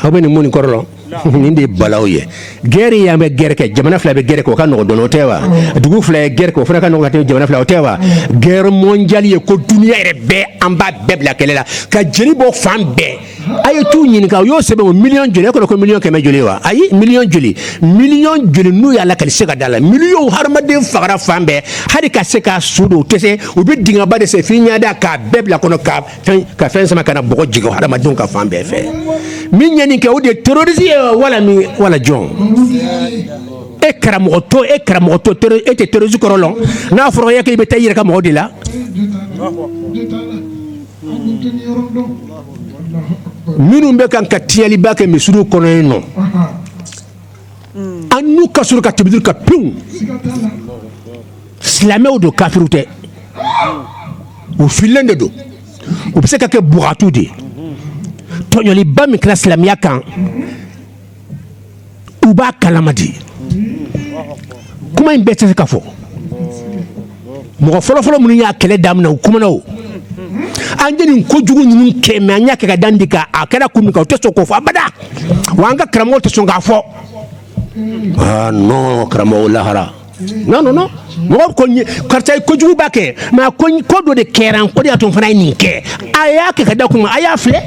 aw bɛ nin mun nin kɔrɔ lɔn nin de ye balawu ye guerre ye an bɛ guerre kɛ jamana fila bɛ guerre kɛ o ka nɔgɔ dɔɔni o tɛ wa dugu fila ye guerre kɛ o fana ka nɔgɔ ka tɛmɛ jamana fila o tɛ wa guerre mondiale ye ko duniya yɛrɛ bɛɛ an b'a bɛɛ bila kɛlɛ la ka jeli bɔ fan bɛɛ a ye t'u ɲininka u y'o sɛbɛn o miliyɔn joli e kɔnɔ ko miliyɔn kɛmɛ joli wa ayi miliyɔn joli miliyɔn joli n'u y'a lakali se ka da la miliyɔn hadamaden fagara fan bɛɛ hali ka se k'a su don u tɛ se u bɛ dingaba de sen f'i ɲɛ dan k'a bɛɛ bila kɔnɔ ka fɛn ka fɛn sama ka na bɔgɔ jigin hadamadenw kan fan bɛɛ fɛ min ye nin kɛ o de ye terrorisi ye wala min wala jɔn e karamɔgɔ to e karamɔgɔ to e tɛ terrorisi kɔrɔ lɔn n'a fɔra e k'i bɛ taa i yɛrɛ ka mɔgɔ de la minnu bɛ kan ka tiɲɛnliba kɛ misiriw kɔnɔ yen non an n'u ka sɔrɔ ka tibidiri ka pewu silamɛw don kafiriw tɛ u fililen de don u bɛ se ka kɛ bugatu de ye tɔɲɔliba min kɛra silamɛya kan u b'a kalama de kuma in bɛɛ tɛ se ka fɔ mɔgɔ fɔlɔfɔlɔ minnu y'a kɛlɛ daminɛ u kumana o an ye nin kojugu ninnu kɛ mais an y'a kɛ ka da nin de kan a kɛra kun min kan u tɛ sɔn k'o fɔ abada wa an ka karamɔgɔw tɛ sɔn k'a fɔ non karamɔgɔ lahara non non non mɔgɔ ko karisa ye kojugu ba kɛ mais a ko ko dɔ de kɛra o de y'a to n fana ye nin kɛ a y'a kɛ ka da kun a y'a filɛ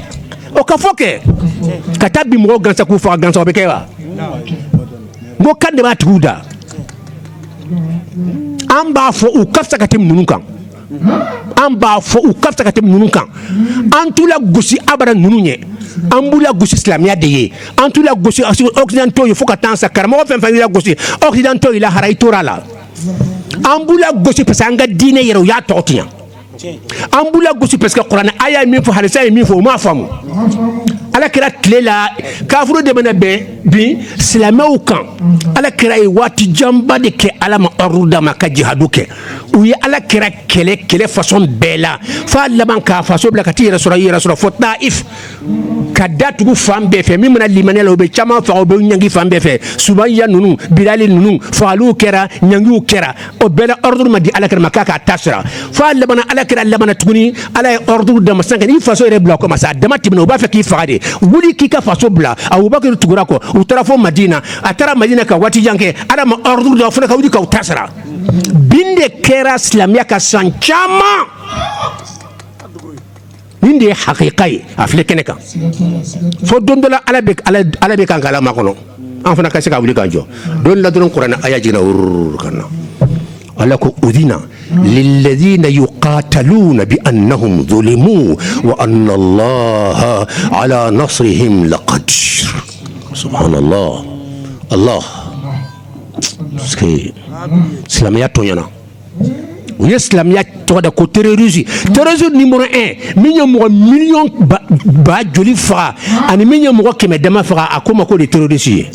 o ka fɔ kɛ ka taa bin mɔgɔ gansan k'u faga gansan o bɛ kɛ wa n ko kan de b'a tigiw da an b'a fɔ u ka fisa ka tɛmɛ ninnu kan an b'a fɔ u ka fisa ka tɛmɛ ninnu kan an t'u lagosi abada ninnu ye an b'u lagosi silamɛya de ye an t'u lagosi occidentaux ye fo ka taa sa karamɔgɔ fɛn fɛn y'u lagosi occidentaux y'i lahara i tora a la an b'u lagosi parce que an ka diinɛ yɛrɛ u y'a tɔgɔ tiɲɛ an b'u lagosi parce que kuranɛ aya ye min fɔ hadisa ye min fɔ u m'a faamu ala kira tile la kafiriw de bɛna bɛ bin silamɛw kan ala kira ye waati janba de kɛ ala ma ordre d'a ma ka jihadu kɛ u ye ala kira kɛlɛ kɛlɛ façon bɛɛ la fo a laban k'a faso bila ka taa yɛrɛ sɔrɔ yɛrɛ sɔrɔ fo taif ka da tugu fan bɛɛ fɛ min mana limaniya a la u bɛ caman faga u bɛ ɲangi fan bɛɛ fɛ sumaya ninnu bilali ninnu fagaliw kɛra ɲangiw kɛra o bɛɛ la ordre ma di ala kira ma k'a k'a ta sara fo a laban ala kira laban tuguni ala ye ordre d'a ma sisan ka n'i faso yɛrɛ bila kɔ ma sa a dama tɛmɛna u b'a fɛ k'i faga de wuli k'i ka faso bila abubakar tugura a kɔ u taara fo madina a taara madina ka waati jan kɛ ala ma ordre d'a fana ka wuli k'aw ta sara bin de kɛra silamɛya ka san caman nin de ye hakika ye a filɛ kɛnɛ kan fo don dɔ la ala bɛ kan k'ala makɔnɔ an fana ka se ka wuli k'an jɔ don la dɔrɔn kuranɛ aya jiginna wururu ka na ala ko udina lilladina yuqataluna bi annahum zulimu wa anna allaha ala nasrihim laqadir subhanallah allah silamɛya tɔɲɔna u ye silamɛya tɔgɔ da ko terroriste terroriste numéro un min ye mɔgɔ million ba joli faga ani min ye mɔgɔ kɛmɛ dama faga a k'o ma k'o de terroriste ye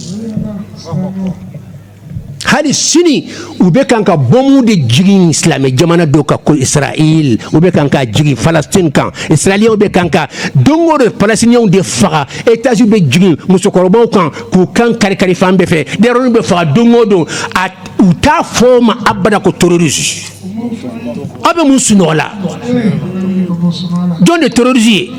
hali sini u bɛ kan ka bɔmu de jigin silamɛ jamana dɔw kan ko israël u bɛ kan ka jigin falastin kan israéliens bɛ kan ka don o don palestiniens de faga étage bɛ jigin musokɔrɔbaw kan k'u kan karikari fan bɛɛ fɛ denyɛrɛw bɛ faga don o don a u t'a fɔ o ma abada ko terroriste aw bɛ mun sunɔgɔ la jɔn de terroriste ye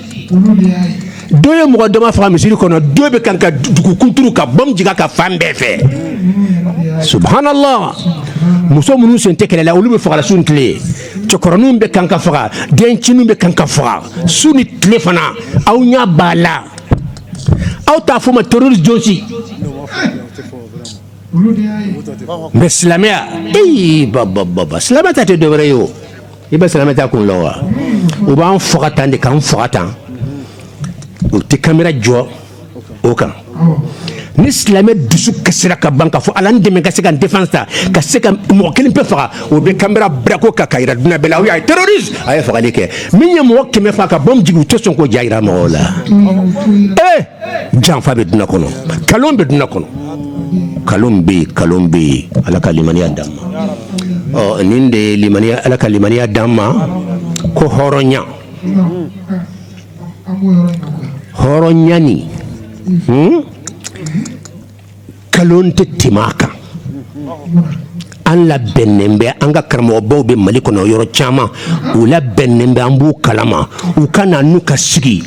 dɔ ye mɔgɔ dama faga misiri kɔnɔ dɔ bɛ kan ka dugu kunturu ka bɔmu jigin a kan fan bɛɛ fɛ subhanallah muso minnu sen tɛ kɛlɛ la olu bɛ fagala su ni tile cɛkɔrɔninw bɛ kan ka faga dencɛniw bɛ kan ka faga su ni tile fana aw ɲɛ b'a la aw t'a fɔ ma terroriste jɔn si mais silamɛya ee bababa silamɛ ta tɛ dɔwɛrɛ ye o i bɛ silamɛ ta kun la wa u b'an faga tan de k'an faga tan u tɛ kamera jɔ o kan ni silamɛ dusu kasira ka ban k'a fɔ ala n dɛmɛ ka se ka n défense ta ka se ka mɔgɔ kelen pe faga u bɛ kamera bila o kan k'a jira duniɲa bɛɛ la a ye terroriste a ye fagali kɛ min ye mɔgɔ kɛmɛ faa ka bombe jigin u tɛ sɔn k'o ja jira mɔgɔw la ee janfa bɛ duniɲa kɔnɔ nkalon bɛ duniɲa kɔnɔ nkalon bɛ nkalon bɛ yen ala ka limaniya d'an ma ɔ nin de ye limaniya ala ka limaniya d'an ma ko hɔrɔnya hɔrɔnya nin nkalon tɛ tɛmɛ a kan an labɛnnen bɛ an ka karamɔgɔbaw bɛ mali kɔnɔ yɔrɔ caman u labɛnnen bɛ an b'u kalama u ka na n'u ka sigi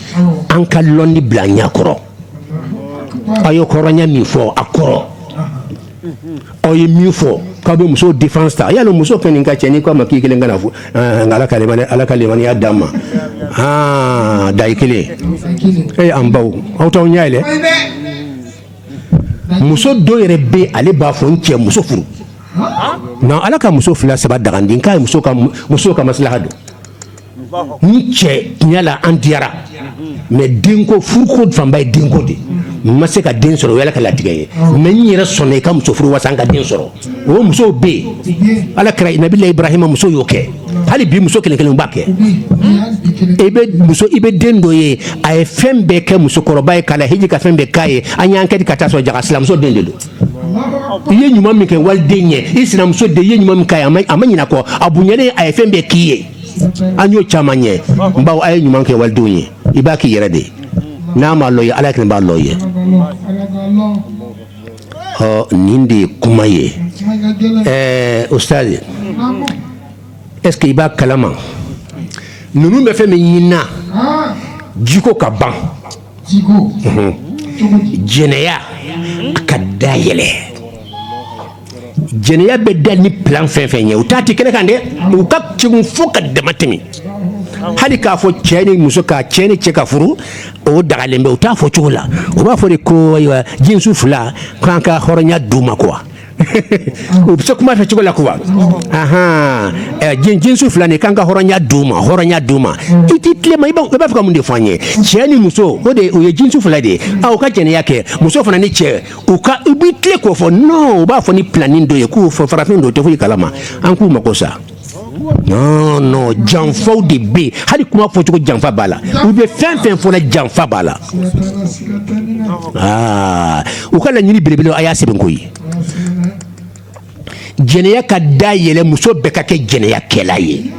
an ka lɔnni bila an ɲɛ kɔrɔ aw ye hɔrɔnya min fɔ a kɔrɔ aw ye min fɔ k'aw bɛ muso défense ta yala muso fɛn nin ka cɛ n'i k'a ma k'i kelen ka na fo ala ka ala ka limaniya d'an ma da i kelen e an baw aw t'aw ɲɛ yɛlɛ muso dɔ yɛrɛ bɛ ale b'a fɔ n cɛ muso furu non ala ka muso fila saba daga den k' ye muso ka masilaha don n cɛ tiɲɛ la an diyara mais denko furuko fanba ye denko de n ma se ka den sɔrɔ o y'ala ka latigɛ ye mais n yɛrɛ sɔnna i ka muso furu wasa an ka den sɔrɔ o musow bɛ yen ala kira nabila ibrahima muso y'o kɛ hali bi muso kelen kelen b'a kɛ i bɛ muso i bɛ den dɔ ye a ye fɛn bɛɛ kɛ musokɔrɔba ye k'a lahiji ka fɛn bɛɛ k'a ye an y'an kɛ ka taa sɔrɔ jaka sinamuso den de don i ye ɲuman min kɛ waliden ye i sinamuso den i ye ɲuman min k'a ye a ma a ma ɲinɛ kɔ a bonyalen a ye fɛn bɛɛ k'i ye an y'o caman ye n baw aw ye ɲuman kɛ walidenw ye i b'a k'i yɛrɛ de ye n'a m'a lɔn i ye ala kelen b'a lɔn i ye ɔ nin de ye kuma ye ɛɛ ustaz est-ce que i b'a kalama ninnu bɛ fɛn min ɲinina jiko ka ban jɛnɛya ka dayɛlɛ jɛnɛya bɛ da ni plan fɛn fɛn ye u t'a ti kɛnɛ kan dɛ u ka kegun fo ka dama tɛmɛ hali k'a fɔ cɛ ni muso ka cɛ ni cɛ ka furu o dagalen bɛ u t'a fɔ cogo la u b'a fɔ de ko ayiwa jinsu fila k'an ka hɔrɔnya d'u ma quoi u bɛ se kuma fɛ cogo la quoi ahan ɛ jin jinsu fila nin k'an ka hɔrɔnya d'u ma hɔrɔnya d'u ma i t'i tilen ma i b'a i b'a fɛ ka mun de fɔ an ye cɛ ni muso o de o ye jinsu fila de ye a u ka jɛnɛya kɛ muso fana ni cɛ u ka u b'i tilen k'o fɔ non u b'a fɔ ni planning dɔ ye k'u fɔ farafin don u tɛ foyi kalama an k'u mago sa janfaw de bɛ yen hali kuma fɔcogo janfa b'a la u bɛ fɛn fɛn fɔ la janfa b'a la aa u ka laɲini belebele a y'a sɛbɛn ko ye jɛnɛya ka da yɛlɛ muso bɛɛ ka kɛ jɛnɛyakɛla ye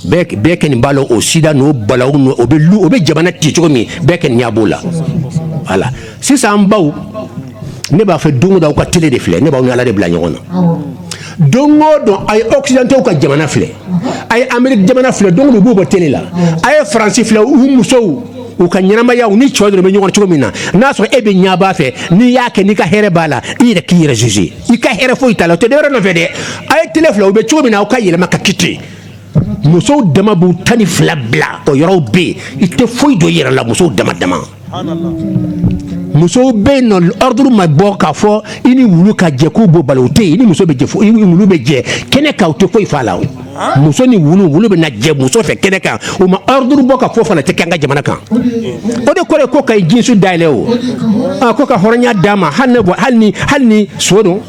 bɛɛ kɛ nin b'a la o sida n'o balawu o bɛ jamana ci cogo min bɛɛ kɛ nin ɲɛ b'o la voilà sisan an baw ne b'a fɛ don o don aw ka télé de filɛ ne b'aw ni ala de bila ɲɔgɔn na don o don a ye occidentaux ka jamana filɛ a ye amérique jamana filɛ don o don u b'u bɔ télé la a ye faransi filɛ u musow u ka ɲɛnamaya u ni cɛw dɔrɔn bɛ ɲɔgɔn cogo min na n'a sɔrɔ e bɛ ɲɛ b'a fɛ n'i y'a kɛ n'i ka hɛrɛ b'a la i yɛrɛ k'i yɛrɛ juger i ka hɛrɛ foyi t'a la o tɛ dɔwɛrɛ nɔfɛ dɛ a ye télé filɛ u bɛ cogo min na aw ka yɛlɛma ka kɛ ten musow dama b'u tan ni fila bila o yɔrɔw bɛ yen i tɛ foyi dɔn i yɛrɛ la musow dama dama musow bɛ yen n'ordre ma bɔ k'a fɔ i ni wulu ka jɛ k'o b'u bali o tɛ yen i ni muso bɛ jɛ i ni wulu bɛ jɛ kɛnɛ kan u tɛ foyi f'a la muso ni wulu wulu bɛ jɛ muso fɛ kɛnɛ kan u ma ordre bɔ k'a fɔ fana tɛ kɛ an ka jamana kan o de kɔrɔ ye ko ka jinsu dayɛlɛ o ko ka hɔrɔnya d'a ma hali ni so don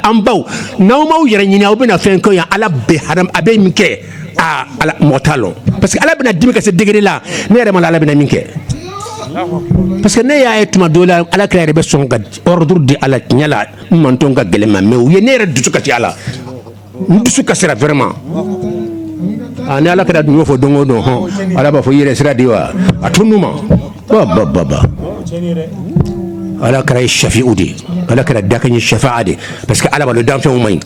an baw n'aw m'aw yɛrɛ ɲini aw bɛna fɛn kɛ yan ala bɛ ha a bɛ min kɛ aa ala mɔgɔ t'a lɔn parce que ala bɛna dimi ka se degré la ne yɛrɛ m'a lɔn ala bɛna min kɛ parce que ne y'a ye tuma dɔ la ala kira yɛrɛ bɛ sɔn ka ordre di ala tiɲɛ la n mantɔn ka gɛlɛn n ma mais u ye ne yɛrɛ dusu kasi ala n dusu kasira vraiment aa ni ala kira dun y'o fɔ don o don hɔn ala b'a fɔ i yɛrɛ sira di wa a to n'u ma ba ba ba ba ala kira ye shafi'u de ye ala kira dakan ye shafa'a de ye parce que ala b'a dɔn danfɛnw man ɲi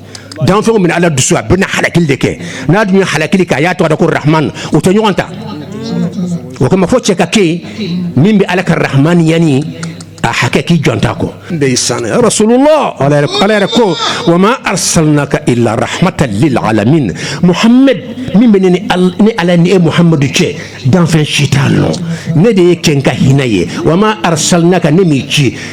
danfɛnw min ala dusu a bɛna halakili de kɛ n'a dun ye halakili kɛ a y'a tɔgɔ da ko rahman o tɛ ɲɔgɔn ta o kama fo cɛ ka kɛ min bɛ ala ka rahman yanni a hakɛ k'i jɔnta kɔ ndeysaan rasulullah ala yɛrɛ ko wa ma arsalnaka illa rahmatan lil alamin muhammad min bɛ ne ni ala ni e muhammadu cɛ danfɛn si t'a lɔn ne de y'e kɛ n ka hinɛ ye wa ma arsalnaka ne m'i ci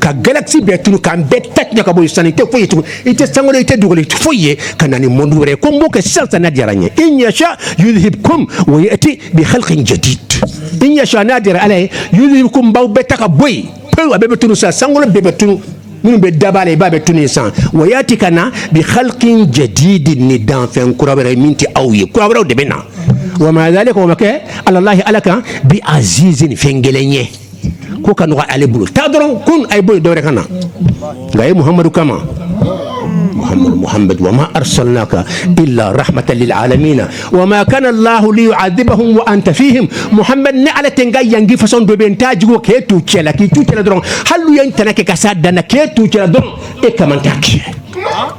ka galaxy bɛɛ tunu k'an bɛɛ ta ka bɔ yen sisan i tɛ foyi ye tugun i tɛ sankolo i tɛ dugukolo i tɛ foyi ye ka na ni monde wɛrɛ ye ko n b'o kɛ sisan sisan n'a diyara n ye in yasha yudhibkum wa yati bi khalqin jadid in yasha n'a diyara ala ye yudhibkum b'aw bɛɛ ta ka bɔ yen pewu a bɛɛ bɛ tunu sisan sankolo bɛɛ bɛ tunu minnu bɛ daba la i b'a bɛ tunu san wa yati ka na bi khalqin jadid ni danfɛn kura wɛrɛ min tɛ aw ye kura wɛrɛw de bɛ na wa ma dhalika o ma kɛ alallahi ala kan bi azizin fɛn gɛlɛn ye ko ka nɔgɔ ale bolo taa dɔrɔn kun a ye bɔ yen dɔwɛrɛ ka na nka a ye muhammadu kama muhammad wa ma arsalnaka illa rahmatan lil alamin wa ma kana allahu liyuadhibahum wa anta fihim muhammad ne ala tɛ n ka ɲangi façon dɔ bɛ n taa jugu k'e t'u cɛla k'i t'u cɛla dɔrɔn hali u ye n tana kɛ ka s'a dan na k'e t'u cɛla dɔrɔn e kama n t'a kɛ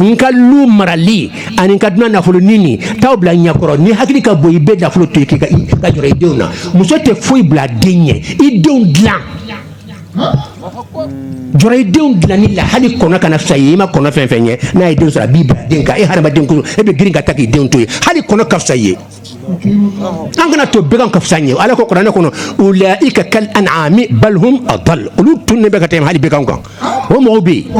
n ka lu marali ani n ka dunan nafolo ɲini t'aw bila ɲɛkɔrɔ n'i hakili ka bon i bɛ nafolo to i ka jɔrɔ i denw na muso tɛ foyi bila den ɲɛ i denw dilan jɔrɔ i denw dilanni la hali kɔnɔ kana fisa i ye i ma kɔnɔ fɛn fɛn ye n'a ye den sɔrɔ a b'i bila den kan e hadamaden ko e bɛ girin ka taa k'i denw to yen hali kɔnɔ ka fisa i ye an kana to bɛgan ka fisa an ye ala ko kuranɛ kɔnɔ ulaika kal an'ami bal hum adall olu tununnen bɛ ka tɛmɛ hali bɛgan kan o mɔgɔw bɛ yen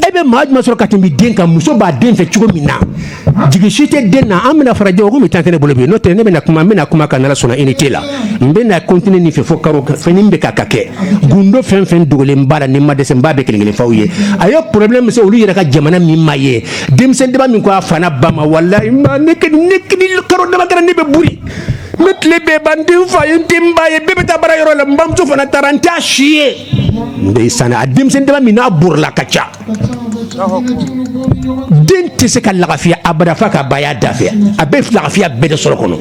e bɛ maa jumɛn sɔrɔ ka tɛmɛ den kan muso b'a den fɛ cogo min na jigi si tɛ den na an bɛna farajɛ o komi tan tɛ ne bolo bi n'o tɛ ne bɛna kuma n bɛna kuma kan n'ala sɔnna unité la n bɛna continuer nin fɛ fo karo fɛn min bɛ ka kɛ gundo fɛn fɛn dogolen b'a la ni n ma dɛsɛ n b'a bɛɛ kelen kelen f'aw ye a ye problème min se olu yɛrɛ ka jamana min ma ye denmisɛn dama min ko a fa n'a ba ma walayi ma ne kɛ ne kini karo dama kɛra ne bɛ boli ne tile bɛ ban n tɛ n fa ye n tɛ n ba ye bɛɛ bɛ taa baara yɔrɔ la n bamuso fana taara n t'a si ye ndeysaan a denmisɛn dama min n'a borila ka ca den tɛ se ka lagafiya abada f'a k'a ba y'a da fɛ a bɛ lagafiya bɛɛ de sɔrɔ kɔnɔ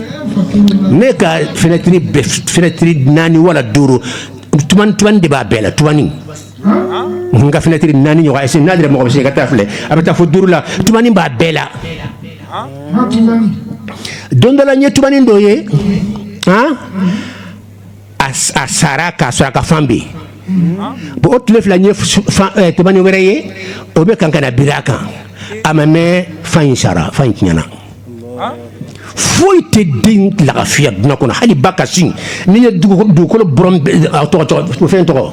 ne ka fenɛtiri bɛɛ fenɛtiri naani wala duuru tubani tubani de b'a bɛɛ la tubani ka finɛtiri naani ɲɔgɔn c'est-à-dire mɔgɔ bɛ se ka taa filɛ a bɛ taa fo duuru la tubani b'a bɛɛ la don dɔ la n ye tubani dɔ ye a sara k'a sɔrɔ a ka fan bɛ yen bon o tile fila n ye tubani wɛrɛ ye o bɛ kan ka na biri a kan a ma mɛn fan in sara fan in tiɲɛna foyi tɛ den lagafiya dunan kɔnɔ hali ba ka sin n'i ye dugukolo fɛn tɔgɔ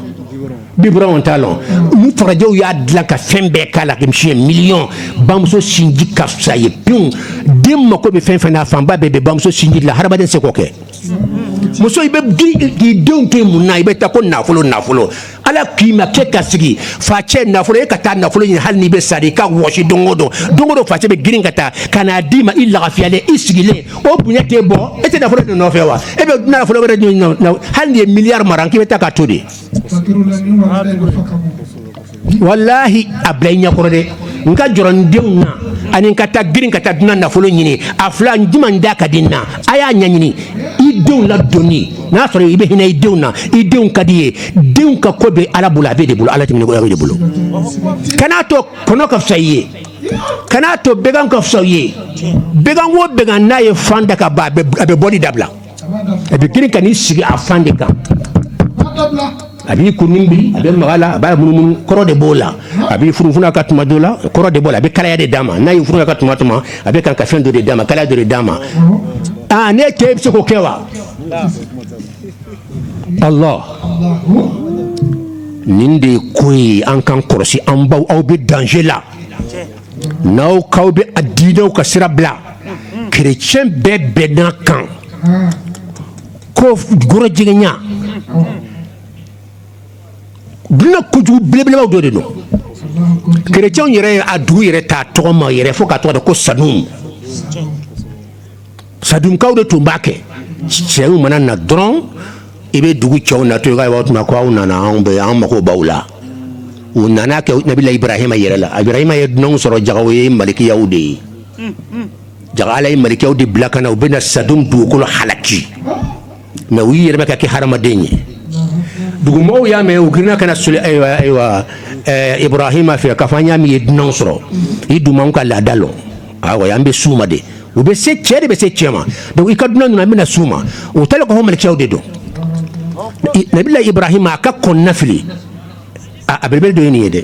biberon t'a la olu farajɛw y'a dilan ka fɛn bɛɛ k'a la misi miliyɔn bamuso sinji ka fisa ye pewu den mako bɛ fɛn fɛn na fanba bɛɛ bɛ bamuso sinji la hadamaden se k'o kɛ muso i bɛ k'i denw to yen mun na i bɛ taa ko nafolo nafolo ala k'i ma k'e ka sigi facɛ nafolo e ka taa nafolo ɲini hali n'i bɛ sa i ka wɔsi don o don don o don facɛ bɛ girin ka taa ka n'a d'i ma i lagafiyalen i sigilen o bonya t'e bɔ e tɛ nafolo de nɔfɛ wa e bɛ nafolo wɛrɛ ɲini hali n'i ye miliyari mara k'i bɛ taa k'a to de walahi a bila i ɲɛkɔrɔ dɛ n ka jɔrɔ n denw na ani n ka taa girin ka taa dunan nafolo ɲini a fila n jumɛn da ka di n na a y'a ɲɛɲini i denw ladonni n'a sɔrɔ i bɛ hinɛ i denw na i denw ka di i ye denw ka ko bɛ ala bolo a b'e de bolo ala tɛmɛnen kɔ e de bolo kana'a to kɔnɔ ka fisa i ye kana'a to bɛgan ka fisa i ye bɛgan o bɛgan n'a ye fan da ka ban a bɛ bɔli dabila a bɛ girin ka n'i sigi a fan de kan a b'i kun biri a bɛ maga a la a b'a munumunu kɔrɔ de b'o la a b'i funufunu ka tuma dɔ la kɔrɔ de b'o la a bɛ kalaya de d'a ma n'a y'i funufunu ka tuma tuma a bɛ kan ka fɛn dɔ de d'a ma kalaya dɔ de d'a ma aa ne cɛ bɛ se k'o kɛ wa ala nin de ye ko ye an k'an kɔlɔsi an baw aw bɛ danger la n'aw k'aw bɛ a diinɛw ka sira bila kerecɛn bɛɛ bɛnna a kan ko gorojigɛnya duniya kojugu belebelebaw dɔ de don kerecɛnw yɛrɛ ye a dugu yɛrɛ ta tɔgɔ ma yɛrɛ fo k'a tɔgɔ da ko sadun sadunkaw de tun b'a kɛ cɛw mana na dɔrɔn i bɛ dugu cɛw natɔ ye ka tuma ko aw nana anw bɛ an mago b'aw la o nana kɛ nabila ibrahima yɛrɛ la ibrahima ye dunanw sɔrɔ jaga u ye malikiyaw de ye jaa ala ye malikɛw de bila ka na u bɛna na sadon dugukolo halaki mɛ u yɛrɛ ka kɛ hadamaden ye dugumɔgɔw y'a mɛn u girinna ka na ayiwa ayiwa ibrahima fɛ k'a fɔ an y'a mɛn i ye dunan sɔrɔ i dun b'an ka laada lɔn an bɛ s'u ma de u bɛ se cɛ de bɛ se cɛ ma i ka dunan ninnu an bɛna s'u ma u taara ka malikɛw de don nabila ibrahima a ka kɔnɔnafili a belebele dɔ ye nin ye dɛ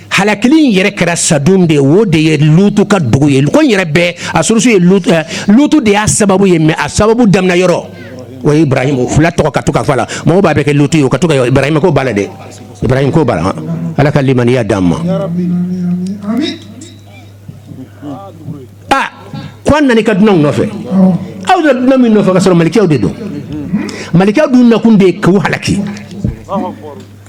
halakili in yɛrɛ kɛra sadun de o de ye lutu ka dugu ye ko in yɛrɛ bɛɛ a source ye lutu eh, lutu de y'a sababu ye mɛ a sababu daminɛ yɔrɔ o ye ibrahim o fila tɔgɔ ka to ka fɔ a la mɔgɔw b'a bɛɛ kɛ lutu ye o ka to ka ibrahim ko b'a la dɛ ibrahim ko b'a la ala ka limaniya d'an ma a ko an nana i ka dunanw nɔfɛ aw nana dunan min nɔfɛ ka sɔrɔ malikɛw de don malikɛw dun nakun de ye k'u halaki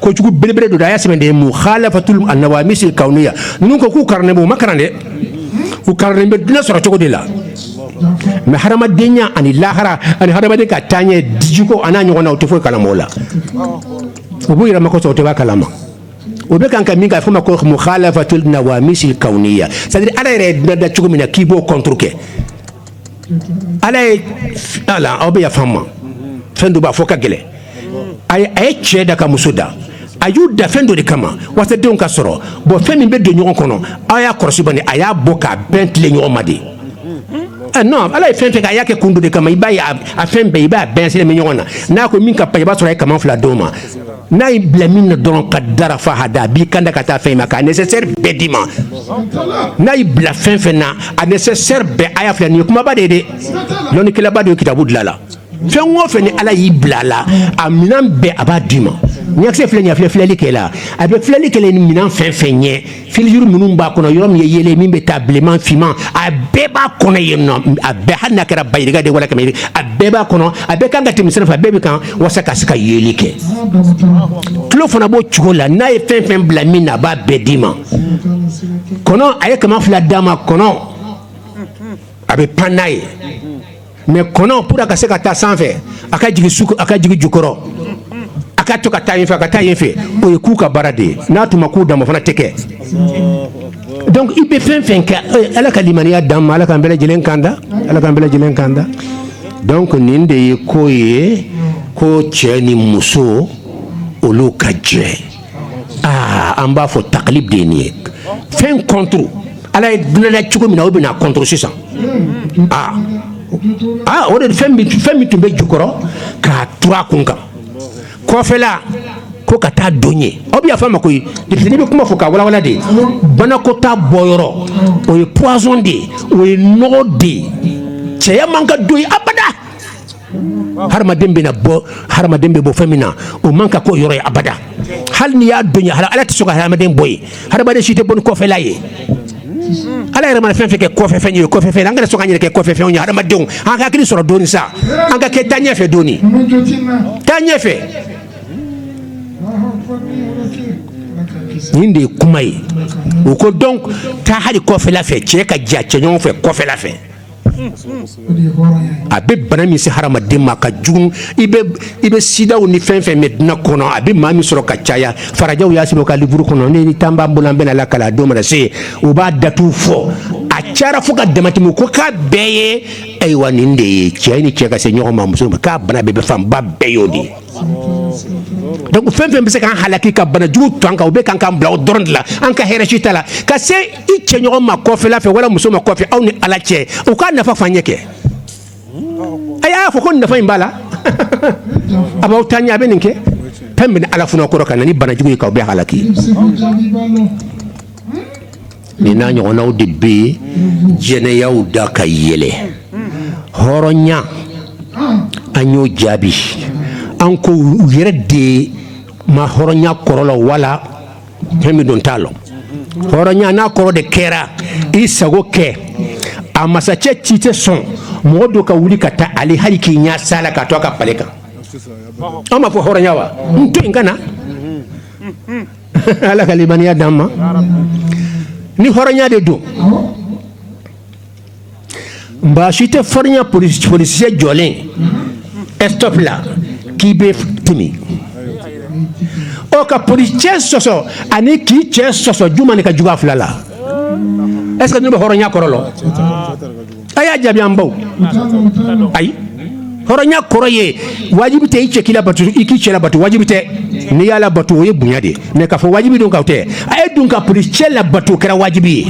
kojugu belebele don a y'a sɛbɛn de mukhalafatul nawamisil kawniya ninnu ko k'u karannen b'u ma karan dɛ u karannen bɛ duniya sɔrɔ cogo de la mɛ hadamadenya ani lahara ani hadamaden ka taaɲɛ dijiko a n'a ɲɔgɔn na u tɛ foyi kalama o la u b'u yɛrɛ ma kosɔn u tɛ b'a kalama o bɛ kan ka min k'a fɔ ma ko mukhalafatul nawamisil kawniya c'est à dire ala yɛrɛ ye duniya da cogo min na k'i b'o contre kɛ ala ye aw bɛ yafa n ma fɛn dɔ b'a fɔ ka gɛlɛn a a ye cɛ da ka muso da a y'u da fɛn dɔ de kama walasa denw ka sɔrɔ bon fɛn min bɛ don ɲɔgɔn kɔnɔ aw y'a kɔlɔsi bani a y'a bɔ k'a bɛn tilen ɲɔgɔn ma de non ala ye fɛn fɛn kɛ a y'a kɛ kun dɔ de kama i b'a ye a fɛn bɛɛ i b'a bɛɛ sirilen bɛ ɲɔgɔn na n'a ko min ka pan i b'a sɔrɔ a ye kaman fila d'o ma n'a y'i bila min na dɔrɔn qaddara fahada a b'i kanda ka taa fɛn in ma k'a nécessaire bɛɛ d'i ma n'a y'i bila fɛn fɛn na a nécessaire bɛɛ a y'a filɛ nin ye kumaba de ye dɛ lɔnnikɛlaba de ye kitabu dilan a la fɛn o fɛn ni ala y'i bila a la a minɛn bɛɛ a b'a d'i ma ɲakisɛ filɛ nin ye a filɛ filɛli kɛ la a bɛ filɛli kɛ ni minɛn fɛn fɛn ye filijuru minnu b'a kɔnɔ yɔrɔ min ye yeelen min bɛ taa bilenman finman a bɛɛ b'a kɔnɔ yen nɔ a bɛɛ hali n'a kɛra bayirika de wala kɛmɛ a bɛɛ b'a kɔnɔ a bɛɛ kan ka tɛmɛ sira fɛ a bɛɛ bɛ kan walasa ka se ka yeli kɛ tulo fana b'o cogo la n'a ye fɛn fɛn bila min na a b'a bɛɛ d'i ma kɔnɔ a ye kaman fila d'a ma kɔnɔ a bɛ pan n'a ye mais kɔnɔ pour a ka se ka taa sanfɛ a ka jigin su a ka jigin jukɔrɔ a ka to ka taa yen fɛ a ka taa yen fɛ o ye ku ka baara de ye n'a tun ma ku d'a ma fana tɛ kɛ donc i bɛ fɛn fɛn kɛ ala ka limaniya d'an ma ala k'an bɛɛ lajɛlen kanda ala k'an bɛɛ lajɛlen kanda donc nin de ye ko ye ko cɛ ni muso olu ka jɛ aa an b'a fɔ taklib de ye nin ye fɛn contre Ala ye duniya da cogo min na o bɛ n'a contre sisan aa aa o de fɛn min fɛn min tun bɛ jukɔrɔ k'a turu a kun kan kɔfɛla ko ka taa don ye aw bɛ yafa n ma koyi depuis n'i bɛ kuma fɔ k'a walawala de banakɔtaa bɔyɔrɔ o ye poison de ye o ye nɔgɔ de ye cɛya man ka don ye abada hadamaden bɛna bɔ hadamaden bɛ bɔ fɛn min na o man ka k'o yɔrɔ ye abada hali n'i y'a don ye ala tɛ sɔn ka hadamaden bɔ ye hadamaden si tɛ bɔ ni kɔfɛla ye ala yɛrɛ mana fɛn fɛn kɛ kɔfɛ fɛn ye kɔfɛ fɛn an kana sɔn k'an yɛrɛ kɛ kɔfɛ fɛnw ye hadamadenw an ka hakili sɔrɔ dɔɔni sa an ka kɛ taa ɲɛfɛ dɔɔni taa ɲɛfɛ nin de ye kuma ye o ko donc taa hali kɔfɛla fɛ cɛ ka jɛ cɛ ɲɔgɔn fɛ kɔfɛla fɛ a bɛ bana min se hadamaden ma ka jugu i bɛ sidaw ni fɛn fɛn mɛ duniya kɔnɔ a bɛ maa min sɔrɔ ka caya farajɛw y'a sɛbɛn u ka livre kɔnɔ ni tan b'an bolo an bɛn'a lakali a don mana se u b'a datugu fɔ a cayara fo ka damatɛmɛ ko k'a bɛɛ ye ayiwa nin de ye cɛ ni cɛ ka se ɲɔgɔn ma muso k'a bana bɛ bɛ fanba bɛɛ y'o de ye Donc fɛn fɛn bɛ se k'an halaki ka bana jugu to an kan u bɛ kan k'an bila o dɔrɔn de la an ka hɛrɛ si t'a la ka se i cɛɲɔgɔn ma kɔfɛla fɛ wala muso ma kɔfɛ aw ni ala cɛ u k'a nafa f'an ɲɛ kɛ a y'a fɔ ko nafa in b'a la a b'aw taa ɲɛ a bɛ nin kɛ fɛn bɛna ala funu an kɔrɔ ka na ni banajugu ye k'aw bɛɛ halaki Nin n'a ɲɔgɔnnaw de bɛ jɛnɛyaw da ka yɛlɛ hɔrɔnya an y'o jaabi an ko u yɛrɛ de ma hɔrɔnya kɔrɔ lɔn wala fɛn min don u t'a lɔn hɔrɔnya n'a kɔrɔ de kɛra i sago kɛ a masakɛ si tɛ sɔn mɔgɔ dɔ ka wuli ka taa ale hali k'i ɲɛ sa la ka to a ka palais kan an b'a fɔ hɔrɔnya wa n to yen ka na ala ka limaniya d'an ma ni hɔrɔnya de don baasi tɛ hɔrɔnya polisicɛ jɔlen stop la k'i bɛ timi o ka polisicɛ sɔsɔ ani k'i cɛ sɔsɔ juman de ka jugu a fila la est ce que ne bɛ hɔrɔnya kɔrɔ lɔn a y'a jaabi an baw ayi hɔrɔnya kɔrɔ ye wajibi tɛ i cɛ k'i labato i k'i cɛ labato wajibi tɛ n'i y'a labato o ye bonya de ye mais k'a fɔ wajibi don ka tɛ a ye dun ka polisicɛ labato o kɛra wajibi ye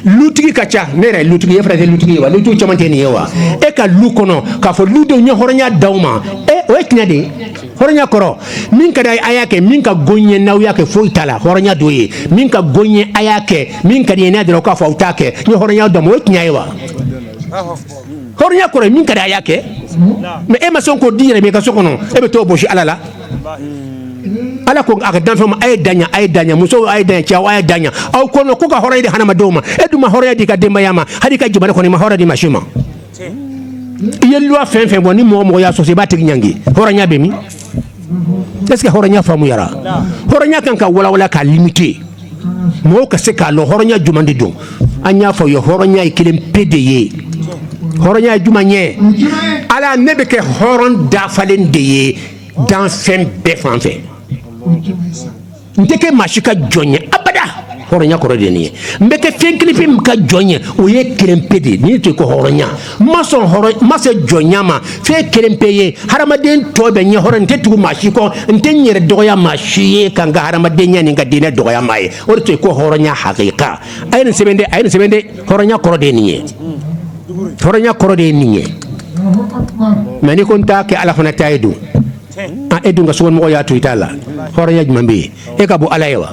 lutigi ka ca ne yɛrɛ lutigi e fana tɛ lutigi ye wa lutigiw caman tɛ nin ye wa e ka lu kɔnɔ k'a fɔ ludenw n ye hɔrɔnya d'aw ma e o ye tiɲɛ de ye hɔrɔnya kɔrɔ min ka di a y'a kɛ min ka go n ye n'aw y'a kɛ foyi t'a la hɔrɔnya dɔ ye min ka go n ye a y'a kɛ min ka di n ye n'a dɔrɔn k'a fɔ aw t'a kɛ n ye hɔrɔnya d'aw ma o ye tiɲɛ ye wa hɔrɔnya kɔrɔ ye min ka di a y'a kɛ mais e ma sɔn k'o d'i yɛrɛ ma i ka so kɔnɔ e bɛ t'o bosi ala la ala ko a ka danfɛn ma a ye dan yan a ye dan yan musow a ye dan yan cɛw a ye dan yan aw ko non ko ka hɔrɔnya di hadamadenw ma e dun ma hɔrɔnya d'i ka denbaya ma hali i ka jamana kɔnɔ i ma hɔrɔnya di maa si ma i ye loi fɛn fɛn bɔ ni mɔgɔ mɔgɔ y'a sɔsɔ i b'a tigi ɲangi hɔrɔnya bɛ min est ce que hɔrɔnya faamuyara hɔrɔnya ka kan ka walawala k'a limite mɔgɔw ka se k'a lɔn hɔrɔnya juman de don an y'a f'aw ye hɔrɔnya ye kelen pe de ye hɔrɔnya ye juman ye ala ne bɛ kɛ hɔrɔn dafalen de ye danfɛn bɛɛ fan fɛ n tɛ kɛ maa si ka jɔn ye abada hɔrɔnya kɔrɔ de nin ye n bɛ kɛ fɛn kelenpe min ka jɔn ye o ye kelenpe de ye nin tɔgɔ ko hɔrɔnya n ma sɔn hɔrɔn n ma se jɔnya ma fɛn kelenpe ye hadamaden tɔ bɛɛ n ye hɔrɔn n tɛ tugu maa si kɔ n tɛ n yɛrɛ dɔgɔya maa si ye ka n ka hadamadenya ni n ka diinɛ dɔgɔya maa ye o de tɔgɔ ko hɔrɔnya hakika a ye nin sɛbɛn de a ye nin sɛbɛn de hɔrɔnya kɔrɔ de ye nin ye hɔrɔnya kɔrɔ de ye nin ye mais n'i ko n t'a kɛ ala fana ta ye don e dun ka somɔgɔ y'a to i ta la hɔrɔnya jumɛn bɛ yen e ka bon ala ye wa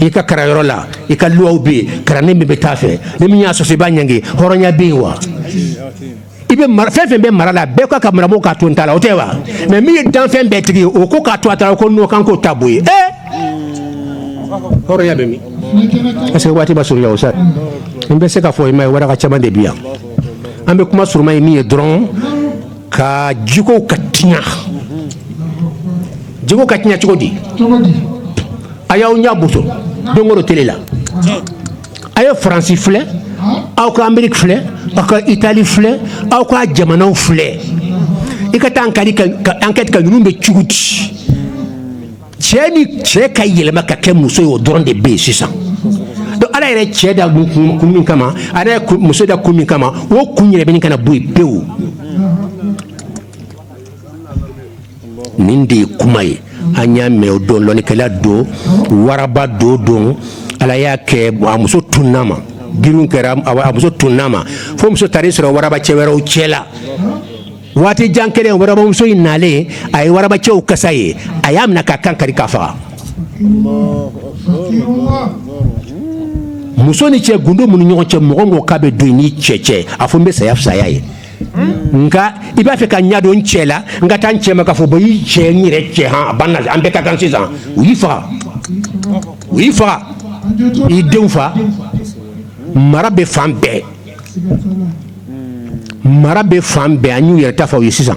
i ka karanyɔrɔ la i ka loiw bɛ yen karanden bɛɛ bɛ taa a fɛ ni min y'a sɔsɔ i b'a ɲangi hɔrɔnya bɛ yen wa i bɛ mara fɛn fɛn b'i mara la bɛɛ ka ka maramɔgɔw k'a to n ta la o tɛ wa mais min ye danfɛn bɛɛ tigi ye o ko k'a to a ta la ko non k'an k'o ta bɔ yen ee hɔrɔnya bɛ min parce que waati ma surunya o sa n bɛ se k'a fɔ i ma ye waraka caman de bɛ yan an bɛ kuma surunman ye min ye dɔrɔn ka jiko ka tiɲa jiko ka tiɲa cogo di a y'aw ɲa boso don o don tele la a ye faransi filɛ aw ka ameriki filɛ aw ka itali filɛ aw ka jamanaw filɛ i ka taa an ka enquête kɛ ninnu bɛ cogo di cɛ ni cɛ ka yɛlɛma ka kɛ muso ye o dɔrɔn de bɛ yen sisan donc ala yɛrɛ cɛ da kun min kama ala yɛrɛ muso da kun min kama o kun yɛrɛ bɛ ɲini ka na bɔ yen pewu nin de ye kuma ye an y'a mɛn o don lɔnnikɛla dɔ waraba dɔ don ala y'a kɛ a muso tunna ma giriw kɛra a muso tunna ma fo muso taara sɔrɔ waraba cɛ wɛrɛw cɛ la waati jan kɛlen waraba muso in nalen a ye waraba cɛw kasa ye a y'a minɛ k'a kan kari k'a faga muso ni cɛ gundo minnu ɲɔgɔn cɛ mɔgɔ ko k'a bɛ don i n'i cɛ cɛ a fɔ n bɛ saya fisaya ye nka i b'a fɛ ka ɲadon n cɛ la n ka taa n cɛ ma k'a fɔ bɔ y'i cɛ n yɛrɛ cɛ an bɛɛ ka kan sisan u y'i faga u y'i faga i denw fa mara bɛ fan bɛɛ mara bɛ fan bɛɛ an y'u yɛrɛ ta fɔ ye sisan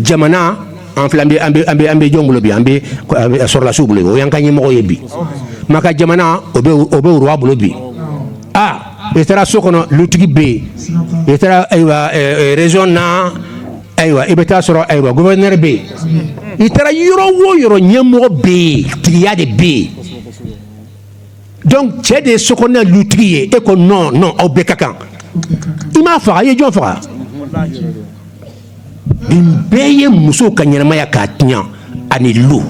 jamana an an bɛ jɔn bolo bi an bɛ sɔrɔdasiw bolo o ye an ka ɲɛmɔgɔ ye bi maka jamana o bɛ roi bolo bi aa i taara so kɔnɔ lutigi bɛ yen i taara ayiwa région na ayiwa i bɛ taa sɔrɔ ayiwa gouverneur bɛ yen i taara yɔrɔ o yɔrɔ ɲɛmɔgɔ bɛ yen tigiya de bɛ yen donc cɛ de ye so kɔnɔ lutigi ye e ko non non aw bɛɛ ka kan i m'a faga i ye jɔn faga nin bɛɛ ye muso ka ɲɛnamaya k'a tiɲɛ ani lu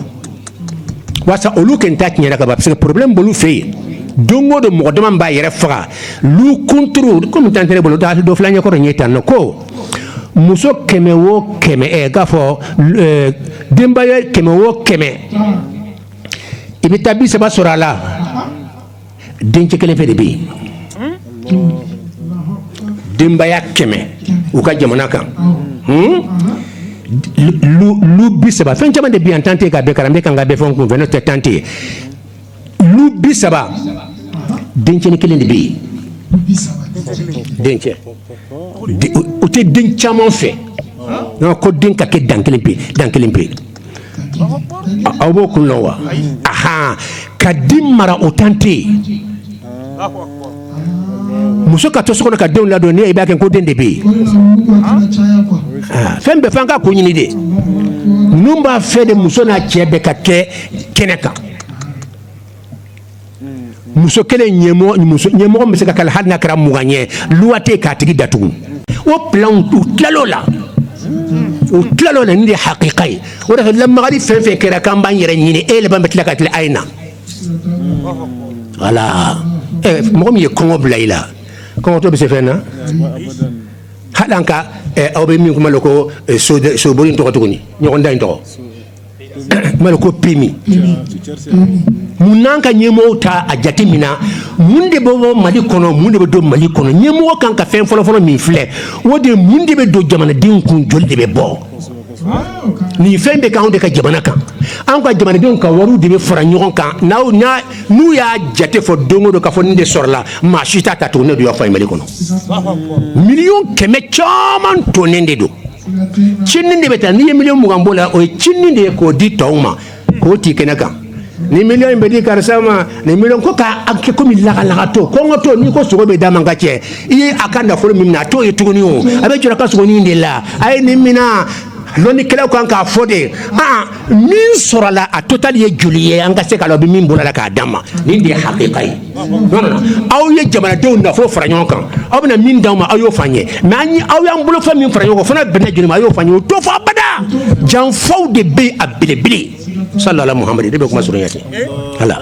walasa olu kɔni ta tiɲɛna ka parce que problème b'olu fɛ yen don o don mɔgɔ dama b'a yɛrɛ faga lu kunturu kɔmi tan tɛ bolo da dɔ fila ɲɛkɔrɔ ɲɛ tan nɔ ko muso kɛmɛ o kɛmɛ k'a fɔ denbaya kɛmɛ o kɛmɛ i bɛ taa bi saba sɔrɔ a la dencɛ kelen pe de bɛ yen denbaya kɛmɛ u ka jamana kan lu bi saba fɛn caman de bi an tante ka kalan bɛ kan ka fɛn kun fɛn tɛ tante lu bi saba dencɛ kelen de bɛ yen dencɛ u tɛ den caman fɛ ko den ka kɛ dan kelen pe dan kelen pe ye aw b'o kun lɔn wa aa ka den mara o tante muso ka to so kɔnɔ ka denw ladon n'i b'a kɛ ko den de bɛ yen fɛn bɛ fɛn ka ko ɲini de ninnu b'a fɛ de muso n'a cɛ bɛɛ ka kɛ kɛnɛ kan muso kelen ɲɛmɔgɔ bɛ se ka kala hali n'a kɛra mugan ye luwate k'a tigi datugu o plan u tilala o la u tilala o la nin de hakika ye o de lamagari fɛn fɛn kɛra k'an b'an yɛrɛ ɲini e yɛlɛma bɛ tila ka tila a ye na wala mɔgɔ min ye kɔngɔ bila i la kɔngɔtɔ bɛ se fɛn na hali ka aw bɛ min kuma ko sooli tɔgɔ tuguni ɲɔgɔn da in tɔgɔ ko PMU mun na an ka ɲɛmɔgɔ t'a jatemina mun de bɛ bɔ mali kɔnɔ mun de bɛ don mali kɔnɔ ɲɛmɔgɔ kan ka fɛn fɔlɔfɔlɔ min filɛ o de mun de bɛ don jamanadenw kun joli de bɛ bɔ ni fɛn bɛ k'anw de ka jamana kan an ka jamanadenw ka wari de bɛ fara ɲɔgɔn kan n'u y'a jate fɔ don o don k'a fɔ nin de sɔrɔla maa si t'a ta tugun ne de y'o f'aw ye mali kɔnɔ miliyɔn kɛmɛ caman tonnen de don cinin de bɛ ta n'i ye miliyɔn mugan bɔ la o ye cinin de ye k'o di tɔw ma k'o tɛ kɛnɛ kan ni miliyɔn in bɛ di karisa ma ni miliyɔn ko k'a kɛ kɔmi lagalagatɔ kɔngɔtɔ n'i ko sogo bɛ d'a ma ka cɛ i ye a ka nafolo min mina a t'o ye tuguni o a bɛ jɔ a ka sogonin de la a ye nin mina lɔnnikɛlaw kan k'a fɔ de min sɔrɔla a totali ye joli ye an ka se k'a lɔn a bɛ min bɔla a la k'a d'a ma nin de ye hakika ye aw ye jamanadenw nafolo fara ɲɔgɔn kan aw bɛna min d'aw ma aw y'o f'an ye mais aw y'an bolofɛn min fara ɲɔgɔn kan fana bɛnna joli ma a y'o f'an ye o t'o fɔ abada janfaw de bɛ a belebele sala muhamadu de bɛ kuma surunya ala